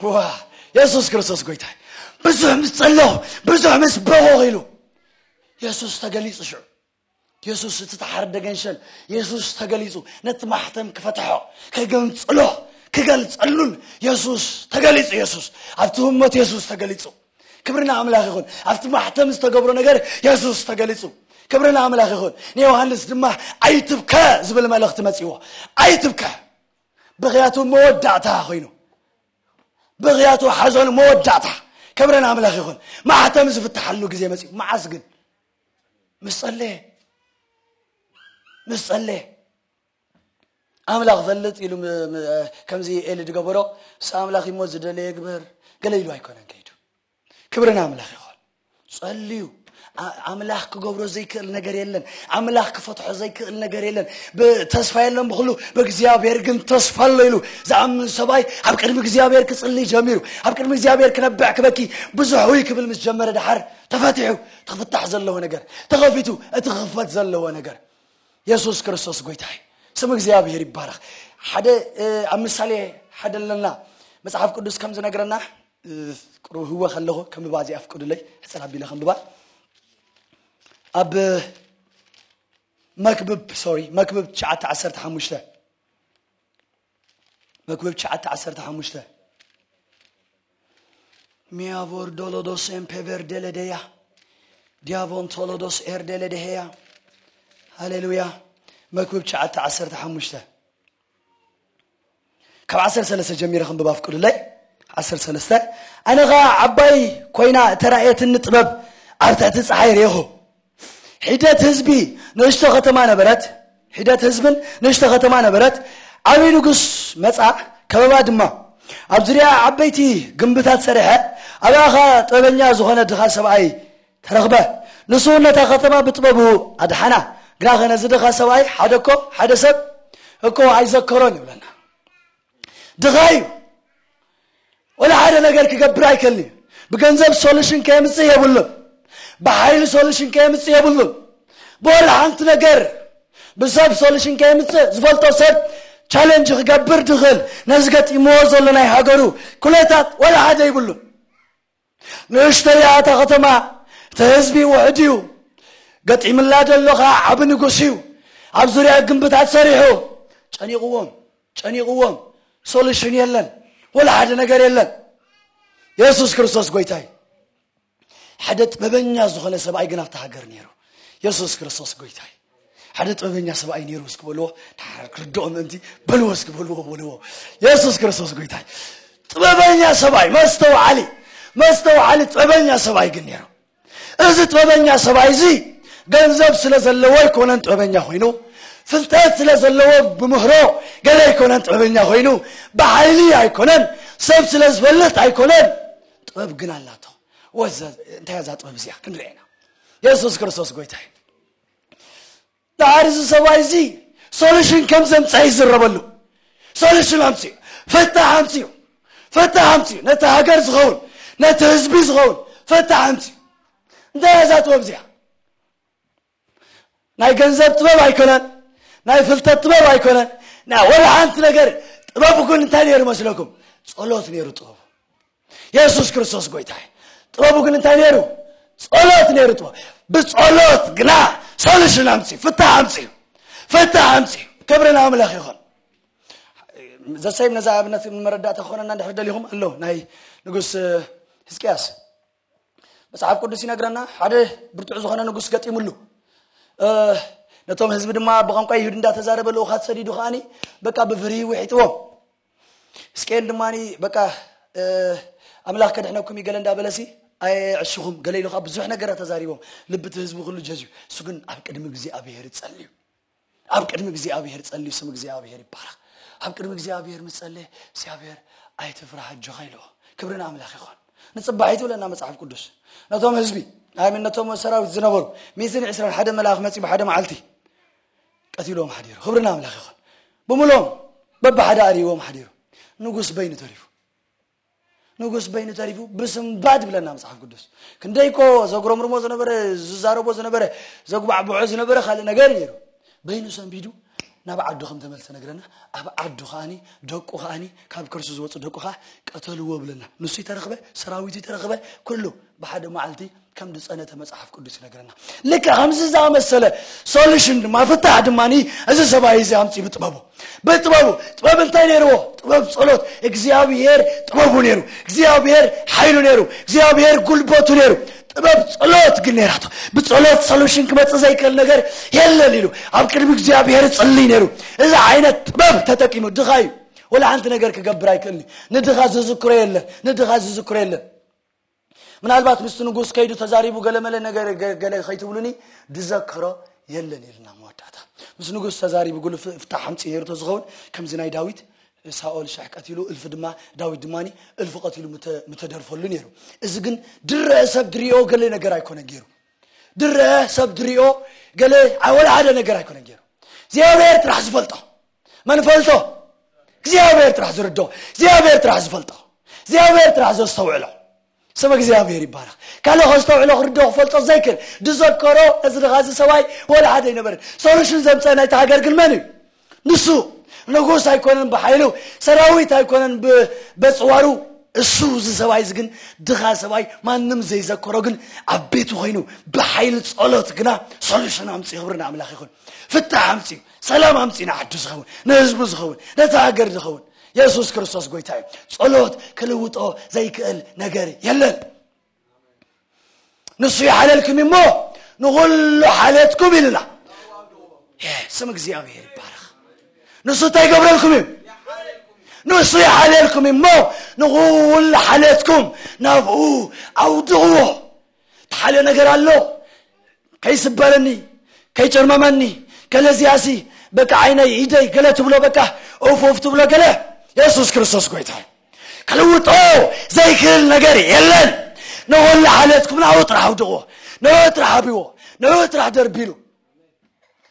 ዋው የሱስ ክርስቶስ ጎይታይ ብዙሕ ምስ ጸለኹ ብዙሕ ምስ በኾ ኢሉ የሱስ ተገሊጹ ሽዑ የሱስ እቲ ተሓርደ ገንሸል የሱስ ተገሊጹ ነቲ ማሕተም ክፈትሖ ከገንጽሎ ክገልጸሉን የሱስ ተገሊጹ የሱስ ኣብቲ ህሞት የሱስ ተገሊጹ ክብርና ኣምላኽ ይኹን ኣብቲ ማሕተም ዝተገብሮ ነገር የሱስ ተገሊጹ ክብርና ኣምላኽ ይኹን ንዮሃንስ ድማ ኣይትብከ ዝብል መልእኽቲ መጺዎ ኣይትብከ ብኽያቱ መወዳእታ ኮይኑ ብኽያቱ ሓዘኑ መወዳእታ ክብረን ኣምላኽ ይኹን ማሕተም ዝፍትሓሉ ግዜ መፅኡ መዓስ ግን ምስ ጸለየ ምስ ጸለየ ኣምላኽ ፈልጥ ኢሉ ከምዚ ኤሊ ዝገበሮ ምስ ኣምላኽ እሞ ዝደለየ ግበር ገለ ኢሉ ኣይኮነን ከይዱ ክብሪ ንኣምላኽ ይኹን። ጸልዩ ኣምላኽ ክገብሮ ዘይክእል ነገር የለን። ኣምላኽ ክፈትሖ ዘይክእል ነገር የለን። ተስፋ የለን ብክሉ ብእግዚኣብሔር ግን ተስፋ ኣሎ ኢሉ ዝኣምን ሰብኣይ ኣብ ቅድሚ እግዚኣብሔር ክጽልይ ጀሚሩ ኣብ ቅድሚ እግዚኣብሔር ክነብዕ ክበኪ ብዙሕ ውይ ክብል ምስ ጀመረ ድሓር ተፈቲሑ እቲ ክፍታሕ ዘለዎ ነገር ተኸፊቱ እቲ ክኽፈት ዘለዎ ነገር የሱስ ክርስቶስ ጎይታ እዩ ስም እግዚኣብሔር ይባረኽ ሓደ ኣብ ምሳሌ ሓደ ኣለና መጽሓፍ ቅዱስ ከም ዝነግረና ቕርህወ ከለኹ ከንብባ እዚኣ ፍቅዱለይ ሕጽር ኣቢለ ከንብባ ኣብ መክብብ ሶሪ መክብብ ትሽዓተ ዓሰርተ ሓሙሽተ መክብብ ትሽዓተ ዓሰርተ ሓሙሽተ ሚያቮር ዶሎዶስ ኤምፔቨር ደለደያ ዲያቮን ቶሎዶስ ኤር ደለደሄያ ሃሌሉያ መክብብ ትሽዓተ ዓሰርተ ሓሙሽተ ካብ ዓሰርተ ሰለስተ ጀሚረ ክንብብ ኣፍቅዱለይ ዓሰርተ ሰለስተ ኣነ ከዓ ዓባይ ኮይና እተራእየትኒ ጥበብ ኣብ ትሕቲ ፀሓይ ርኢኹ ሒደት ህዝቢ ንእሽቶ ከተማ ነበረት ሒደት ህዝብን ንእሽቶ ከተማ ነበረት ዓብይ ንጉስ መፃ ከበባ ድማ ኣብ ዙሪያ ዓበይቲ ግንብታት ሰሪሐ ኣብኣ ከዓ ጥበበኛ ዝኾነ ድኻ ሰብኣይ ተረኽበ። ንሱ እውን ነታ ከተማ ብጥበቡ ኣድሓና። ግናኸ ነዚ ድኻ ሰብኣይ ሓደ እኮ ሓደ ሰብ እኮ ኣይዘከሮን ይብለና። ድኻ እዩ፣ ወላ ሓደ ነገር ክገብር ኣይከልን እዩ። ብገንዘብ ሶሉሽን ከየምፅእ የብሉን፣ ብሓይሊ ሶሉሽን ከየምፅእ የብሉን፣ ብወላ ሓንቲ ነገር ብሰብ ሶሉሽን ከየምፅእ ዝፈልጦ ሰብ ቻለንጅ ክገብር ድኽል ነዚ ገጢምዎ ዘሎ ናይ ሃገሩ ኩነታት ወላ ሓደ ይብሉን። ንእሽተይ እያ እታ ከተማ እቲ ህዝቢ ውሕድ እዩ ገጢምላ ዘሎ ከኣ ዓቢ ንጉስ እዩ ኣብ ዙርያ ግምብታት ሰሪሑ ጨኒቕዎም ጨኒቕዎም ሶሉሽን የለን ወላ ሓደ ነገር የለን የሱስ ክርስቶስ ጎይታ እዩ ሓደ ጥበበኛ ዝኾነ ሰብኣይ ግን ኣብቲ ሃገር ነይሩ የሱስ ክርስቶስ ጎይታ እዩ ሓደ ጥበበኛ ሰብኣይ ነይሩ እስኪ በልዎ ክርድኦ ምእንቲ በልዎ እስኪ በልዎ በልዎ የሱስ ክርስቶስ ጎይታ ጥበበኛ ሰብኣይ መስተውዓሊ መስተውዓሊ ጥበበኛ ሰብኣይ ግን ነይሩ እዚ ጥበበኛ ሰብኣይ እዚ ገንዘብ ስለ ዘለዎ ኣይኮነን ጥበበኛ ኮይኑ ፍልጠት ስለ ዘለዎ ብምህሮ ገለ ኣይኮነን ጥበበኛ ኮይኑ ብሓይሊ ኣይኮነን ሰብ ስለ ዝፈልጥ ኣይኮነን ጥበብ ግን ኣላቶ እንታይ እዛ ጥበብ እዚኣ ክንርኤና የሱስ ክርስቶስ ጎይታ እዩ ድሓር እዚ ሰብኣይ እዚ ሶሉሽን ከም ዘምፀሐ ይዝረበሉ ሶሉሽን ኣምፅኡ ፈታሕ ኣምፅኡ ፈታሕ ኣምፅኡ ነቲ ሃገር ዝኸውን ነቲ ህዝቢ ዝኸውን ፈታሕ ኣምፅኡ እንታይ እያ እዛ ጥበብ እዚኣ ናይ ገንዘብ ጥበብ ኣይኮነን ናይ ፍልጠት ጥበብ ኣይኮነን ናይ ወላ ሓንቲ ነገር ጥበብ ግን እንታይ ነይሩ መስለኩም ጸሎት ነይሩ ጥበቡ የሱስ ክርስቶስ ጎይታ እዩ ጥበቡ ግን እንታይ ነይሩ ጸሎት ነይሩ ጥበብ ብጸሎት ግና ሶሉሽን ኣምፅኡ ፍታሕ ኣምፅኡ ፍታሕ ኣምፅኡ ክብሪ ንኣምላኽ ይኹን ዘሰይም ነዛ ኣብነት መረዳእታ ክኾነና እንድሕር ደሊኹም ኣሎ ናይ ንጉስ ህዝቅያስ መፅሓፍ ቅዱስ ይነግረና ሓደ ብርቱዕ ዝኾነ ንጉስ ገጢሙሉ ነቶም ህዝቢ ድማ ብቋንቋ ይሁድ እንዳተዛረበ ልኡኻት ሰዲዱ ከዓኒ በቃ ብፍርሂ ውሒጥዎም እስቄል ድማ በቃ ኣምላኽ ከድሕነኩም እዩ ገለ እንዳበለሲ ኣየዕሽኹም ገለ ኢሉ ከዓ ብዙሕ ነገራት ተዛሪቦም ልቢ እቲ ህዝቢ ኩሉ ጀዝዩ እሱ ግን ኣብ ቅድሚ እግዚኣብሄር ይጸልዩ ኣብ ቅድሚ እግዚኣብሄር ጸልዩ ስም እግዚኣብሄር ይባረኽ ኣብ ቅድሚ እግዚኣብሄር ምስ ጸለየ እግዚኣብሄር ኣይትፍራህ ኣጆኻ ኢለዎ ክብሪ ንኣምላኽ ይኾን ንጽባሒት ይብለና መጽሓፍ ቅዱስ ነቶም ህዝቢ ኣይምን ነቶም ሰራዊት ዝነበሩ ሚእትን ዕስራን ሓደ መልኣኽ መጺ ብሓደ መዓልቲ ቀቲልዎም ሓዲሩ ኽብሪ ንኣምላኽ ይኹን ብምሎም በብሓደ ኣሪዎም ሓዲሩ ንጉስ በይኑ ተሪፉ ንጉስ በይኑ ተሪፉ ብስንባድ ብለና መጽሓፍ ቅዱስ ክንደይኮ ዘጉረምርሞ ዝነበረ ዝዛረቦ ዝነበረ ዘጉባዕብዖ ዝነበረ ካልእ ነገር ነይሩ በይኑ ሰንቢዱ ናብ ዓዱ ከም ተመልሰ ነግረና ኣብ ዓዱ ከዓኒ ደቁ ከዓኒ ካብ ከርሱ ዝወፁ ደቁ ከዓ ቀተልዎ ብለና ንሱ ይተረኽበ ሰራዊቱ ይተረኽበ ኩሉ ብሓደ መዓልቲ ከም ዝፀነተ መፅሓፍ ቅዱስ ይነገረና ልክ ከምዚ ዝኣመሰለ ሶሉሽን ድማ ፍታሕ ድማ እዚ ሰብኣይ እዚ ኣምፂ ብጥበቡ ብጥበቡ ጥበብ እንታይ ነይርዎ ጥበብ ጸሎት እግዚኣብሔር ጥበቡ ነይሩ እግዚኣብሔር ሓይሉ ነይሩ እግዚኣብሔር ጉልበቱ ነይሩ ጥበብ ጸሎት ግን ነይራቶ ብጸሎት ሶሉሽን ክመፅእ ዘይክእል ነገር የለን ኢሉ ኣብ ቅድሚ እግዚኣብሔር ጽልይ ነይሩ እዚ ዓይነት ጥበብ ተጠቂሙ ድኻ እዩ ወላ ሓንቲ ነገር ክገብር ኣይክእልኒ ንድኻ ዝዝክሮ የለን ንድኻ ዝዝክሮ የለን ምናልባት ምስቲ ንጉስ ከይዱ ተዛሪቡ ገለመለ ነገር ገለ ከይትብሉኒ ድዘከሮ የለን ኢልና መወዳእታ ምስ ንጉስ ተዛሪቡ ጉል ፍታሕ ኣምፂ ነይሩ ተዝኸውን ከምዚ ናይ ዳዊት ሳኦል ሽሕ ቀቲሉ እልፊ ድማ ዳዊት ድማ እልፊ ቀቲሉ ምተደርፈሉ ነይሩ እዚ ግን ድረአ ሰብ ድሪኦ ገለ ነገር ኣይኮነ ገይሩ ድረአ ሰብ ድሪኦ ገለ ወላ ሓደ ነገር ኣይኮነ ገይሩ እግዚኣብሔር ጥራሕ ዝፈልጦ መን ፈልጦ እግዚኣብሔር ጥራሕ ዝርድኦ እግዚኣብሔር ጥራሕ ዝፈልጦ እግዚኣብሔር ጥራሕ ዘስተውዕሎ ስም እግዚኣብሔር ይባረኽ ካልእ ከስተውዕሎ ክርድኦ ክፈልጦ ዘይክል ዝዘከሮ እዚ ድኻ እዚ ሰብኣይ ወላ ሓደ ኣይነበርን ሶሉሽን ዘምፀ ናይቲ ሃገር ግን መን እዩ ንሱ ንጉስ ኣይኮነን ብሓይሉ ሰራዊት ኣይኮነን በፅዋሩ እሱ እዚ ሰብኣይ እዚ ግን ድኻ ሰብኣይ ማንም ዘይዘከሮ ግን ኣብ ቤቱ ኮይኑ ብሓይሊ ጸሎት ግና ሶሉሽን ኣምፅ ክብሪ ንኣምላኽ ይኹን ፍታሕ ኣምጺኡ ሰላም ኣምጺኡ ንዓዱ ዝኸውን ንህዝቡ ዝኸውን ነታ ሃገር ዝኸውን የሱስ ክርስቶስ ጎይታ እዩ ጸሎት ክልውጦ ዘይክእል ነገር የለን ንሱ ይሓለልኩም እሞ ንኹሉ ሓልየትኩም ኢሉና ስም እግዚኣብሔር ይባረኽ ንሱ እንታይ ይገብረልኩም እዩ ንሱ ይሓልየልኩም እሞ ንኹሉ ሓልየትኩም ናብኡ ኣውድቕዎ ተሓልዮ ነገር ኣሎ ከይስበረኒ ከይጨርመመኒ ከለዚያሲ በቃ ዓይነይ ኢደይ ገለ ትብሎ በቃ ኡፍ ኡፍ ትብሎ ገለ የሱስ ክርስቶስ ጎይታ እዩ ክልውጦ ዘይክእል ነገር የለን ንወላ ሓለትኩም ናብኡ ጥራሕ ኣውድቕዎ ንኡ ጥራሕ ኣብዎ ንኡ ጥራሕ ደርቢሉ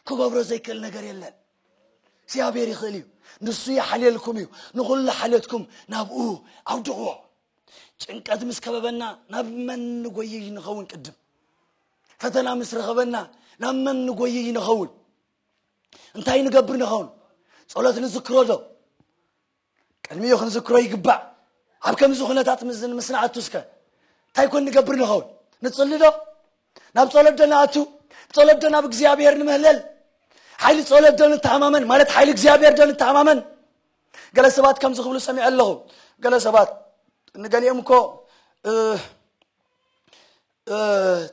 ክገብሮ ዘይክእል ነገር የለን እግዚኣብሔር ይኽእል እዩ ንሱ ይሓልየልኩም እዩ ንኹሉ ሓለትኩም ናብኡ ኣውድቕዎ ጭንቀት ምስ ከበበና ናብ መን ንጎይይ ንኸውን? ቅድም ፈተና ምስ ረኸበና ናብ መን ንጎይይ ንኸውን? እንታይ ንገብር ንኸውን? ጸሎት ንዝክሮ ዶ? ቅድሚኡ ክንዝክሮ ይግባእ። ኣብ ከምዚ ኩነታት ምስ ንኣቱ እስከ እንታይ ኮን ንገብር ንኸውን? ንጽሊ ዶ? ናብ ጸሎት ዶ ንኣቱ? ብጸሎት ዶ ናብ እግዚኣብሔር ንምህለል? ሓይሊ ጸሎት ዶ ንተኣማመን? ማለት ሓይሊ እግዚኣብሔር ዶ ንተኣማመን? ገለ ሰባት ከምዚ ክብሉ ሰሚዐ ኣለኹ ገለ ሰባት ንገሊኦም እኮ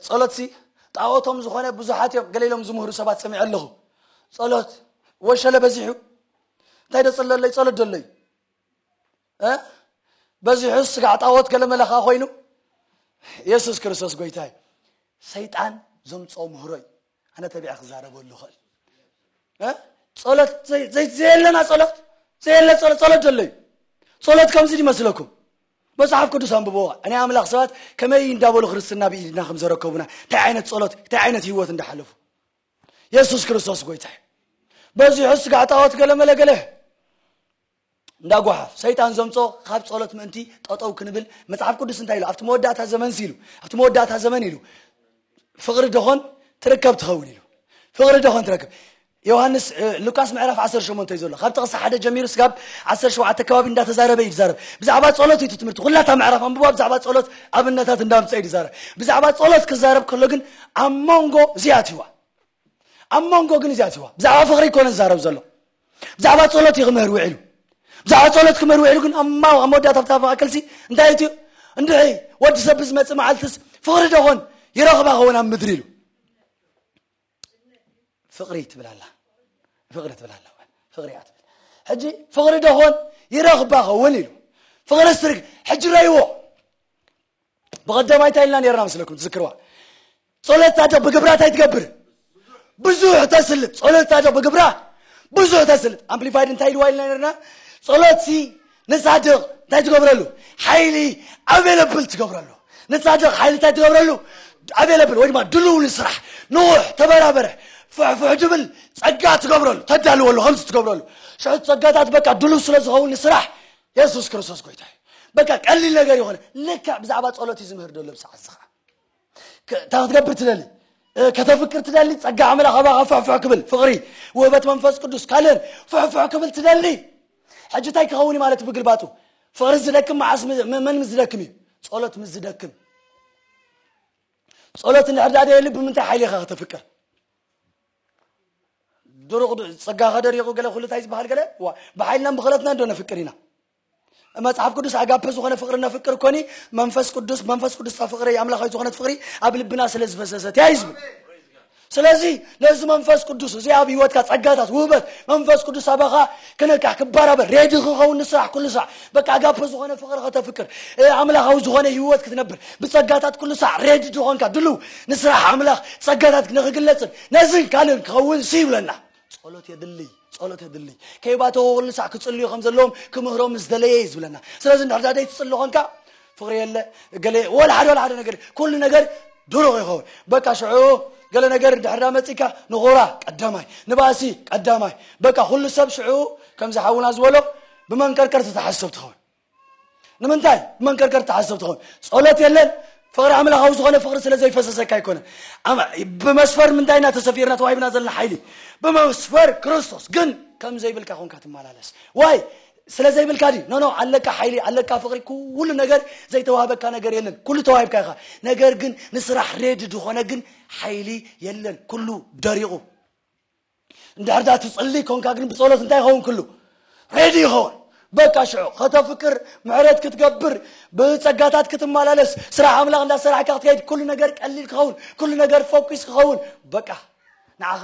ጸሎትሲ ጣዖቶም ዝኾነ ብዙሓት እዮም ገለ ኢሎም ዝምህሩ ሰባት ሰሚዐ ኣለኹ ጸሎት ወሸለ በዚሑ እንታይ ዶ ጸለለይ ጸሎት ደለይ በዚሑ ስጋዕ ጣዖት ገለ መለኻ ኮይኑ የሱስ ክርስቶስ ጎይታ እዩ ሰይጣን ዘምፅኦ ምህሮ እዩ ኣነ ተቢዐ ክዛረበሉ ኽእል ጸሎት ዘየለና ጸሎት ዘየለ ጸሎት ጸሎት ዘሎ እዩ ጸሎት ከምዚ ይመስለኩም መጽሓፍ ቅዱስ ኣንብቦ ናይ ኣምላኽ ሰባት ከመይ እንዳበሉ ክርስትና ብኢድና ከም ዘረከቡና እንታይ ዓይነት ጸሎት እንታይ ዓይነት ህይወት እንዳሓለፉ የሱስ ክርስቶስ ጎይታ እዩ በዚሑ ስጋዕ ጣዖት ገለመለ ገለ እንዳ ጓሓፍ ሰይጣን ዘምጾ ኻብ ጸሎት ምእንቲ ጠጠው ክንብል መጽሓፍ ቅዱስ እንታይ ኢሉ ኣብቲ መወዳእታ ዘመንሲ ኢሉ ኣብቲ መወዳእታ ዘመን ኢሉ ፍቕሪ ደኾን ትርከብ ትኸውን ኢሉ ፍቕሪ ደኾን ትረክብ ዮሃንስ ሉቃስ ምዕራፍ 18 ዘሎ ካብ ጥቕሲ ሓደ ጀሚሩ ስጋብ 17 ከባቢ እንዳተዛረበ እዩ ዝዛረብ ብዛዕባ ጸሎት እዩ ትምህርቲ ኩላታ ምዕራፍ ኣንብባ ብዛዕባ ጸሎት ኣብነታት እንዳምፀ እዩ ዝዛረብ ብዛዕባ ጸሎት ክዛረብ ከሎ ግን ኣብ መንጎ እዚኣትዋ ኣብ መንጎ ግን እዚኣትዋ ብዛዕባ ፍቕሪ ይኮነ ዝዛረብ ዘሎ ብዛዕባ ጸሎት እዩ ክምህር ውዒሉ ብዛዕባ ጸሎት ክምህር ውዒሉ ግን ኣብ ማው ኣብ መወዳእታ ኣብታ ማእከልሲ እንታይ እቲ እንድዒ ወዲ ሰብ ብዝመጽእ መዓልትስ ፍቕሪ ደኾን ይረኽባ ኸውን ኣብ ምድሪ ኢሉ ፍቕሪ ትብል ኣላ ፍቕሪ ትብል ኣላ ፍቕሪ እያ ትብል ሕጂ ፍቕሪ ደኾን ይረኽባ ኸውን ኢሉ ፍቕሪ ስትርግ ሕጂ ረይዎ ብቐደማይ እንታይ ኢልና ነርና መስለኩም ትዝክርዋ ጸሎት ጻድቕ ብግብራ እንታይ ትገብር ብዙሕ ተስልጥ ጸሎት ጻድቕ ብግብራ ብዙሕ ተስልጥ ኣምፕሊፋይድ እንታይ ኢልዋ ኢልና ነርና ጸሎት ሲ ንጻድቕ እንታይ ትገብረሉ ሓይሊ ኣቬለብል ትገብረሉ ንጻድቕ ሓይሊ እንታይ ትገብረሉ ኣቬለብል ወይ ድማ ድልው ንስራሕ ንውሕ ተበራበረ ፍሕፍሕ ድብል ጸጋ ትገብረሉ ተዳልወሉ ከምዚ ትገብረሉ ሽዑ ጸጋታት በቃ ድልው ስለ ዝኸውን ንስራሕ የሱስ ክርስቶስ ጎይታ እዩ በቃ ቀሊል ነገር ይኾነ ልክዕ ብዛዕባ ጸሎት እዩ ዝምህር ደሎ ብሰዓት እዚ ከዓ ክ- እንታይ ክትገብር ትደሊ እ፣ ከተፍቅር ትደሊ ጸጋ ኣምላኽ ኣባኻ ፍሕፍሕ ክብል ፍቕሪ ውህበት መንፈስ ቅዱስ ካልእን ፍሕፍሕ ክብል ትደሊ ሕጂ እንታይ ክኸውን እዩ ማለት ብግልባጡ ፍቕሪ ዝደክም መዓስ ም- ም- መን ምስ ዝደክም እዩ ጸሎት ምስ ዝደክም ጸሎት እንድሕር ደኣ ደየሊ ብምንታይ ሓይሊ ኢኻ ከተፍቅር ድሩቕ ጸጋኸ ደሪቑ ገለ ኩሉ እንታይ ዝበሃል ገለ ዋ ብሓይልናን ብኽእለትናን ዶ ነፍቅር ኢና መጽሓፍ ቅዱስ ኣጋፔ ዝኾነ ፍቕሪ ነፍቅር ኮኒ መንፈስ ቅዱስ መንፈስ ቅዱስ እታ ፍቕሪ ኣምላኻዊ ዝኾነት ፍቕሪ ኣብ ልብና ስለ ዝፈሰሰት እያ እዩ ዝብል ስለዚ ነዚ መንፈስ ቅዱስ እዚ ኣብ ህይወትካ ጸጋታት ውህበት መንፈስ ቅዱስ ኣባኻ ክነቅሕ ክበራበር ሬዲ ክኸውን ንስራሕ ኩሉ ሳዕ በቃ ኣጋፐ ዝኾነ ፍቕሪ ከተፍቅር ኣምላኻዊ ዝኾነ ህይወት ክትነብር ብጸጋታት ኩሉ ሳዕ ሬዲ ድኾንካ ድልው ንስራሕ ኣምላኽ ጸጋታት ንኽግለጽን ነዝን ካልእን ክኸውን ሲ ይብለና ጸሎት የድልይ ጸሎት የድልይ ከይባተወ ኩሉ ሳዕ ክጽልዩ ከም ዘለዎም ክምህሮም ምስ ደለየ እዩ ዝብለና ስለዚ እንድሕር ዘይትጽሊ ኾንካ ፍቕሪ የለ እገለ ወላ ሓደ ወላ ሓደ ነገር ኩሉ ነገር ድሩቕ ይኸውን በቃ ሽዑ ገለ ነገር እንድሕር ዳ መፂካ ንኹራ ቀዳማይ ንባእሲ ቀዳማይ በቃ ኩሉ ሰብ ሽዑ ከምዚ ሓውና ዝበሎ ብመንቀርቀር ተተሓሰብ ትኸውን ንምንታይ ብመንቀርቀር ተሓሰብ ትኸውን ጸሎት የለን ፍቕሪ ኣምላኻዊ ዝኾነ ፍቕሪ ስለ ዘይፈሰሰካ ኣይኮነን ብመስፈር ምንታይ ኢና ተሰፊርና ተዋሂብና ዘለና ሓይሊ ብመስፈር ክርስቶስ ግን ከም ዘይብልካ ኮንካ ትመላለስ ዋይ ስለ ዘይብልካ ድዩ ኖ ኖ ኣለካ ሓይሊ ኣለካ ፍቅሪ ኩሉ ነገር ዘይተዋህበካ ነገር የለን ኩሉ ተዋሂብካ ኢካ ነገር ግን ንስራሕ ሬዲ ድኮነ ግን ሓይሊ የለን ኩሉ ደሪቁ እንድሕር ዳ ትጽሊ ኮንካ ግን ብጸሎት እንታይ ይኸውን ኩሉ ሬዲ ይኸውን በቃ ሽዑ ከተፍቅር ምሕረት ክትገብር ብጸጋታት ክትመላለስ ስራሕ ኣምላኽ እንዳሰራሕካ ክትከይድ ኩሉ ነገር ቀሊል ክኸውን ኩሉ ነገር ፎኪስ ክኸውን በቃ ንዓኻ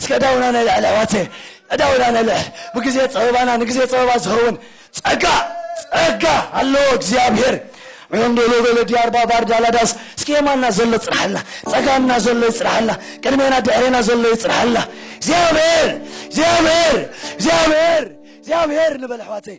እስከ ዕዳውና ነልዕል ኣሕዋተይ ዕዳውና ነልዕል ብግዜ ፀበባና ንግዜ ፀበባ ዝኸውን ፀጋ ፀጋ ኣለዎ እግዚኣብሔር ሮንዶሎ በለ ዲያርባ ባርዳ ላዳስ እስኪ የማና ዘሎ ፅራሕልና ፀጋምና ዘሎ ይፅራሕልና ቅድሜና ድሕሬና ዘሎ ይፅራሕልና እግዚኣብሔር እግዚኣብሔር እግዚኣብሔር እግዚኣብሔር ንበል ኣሕዋተይ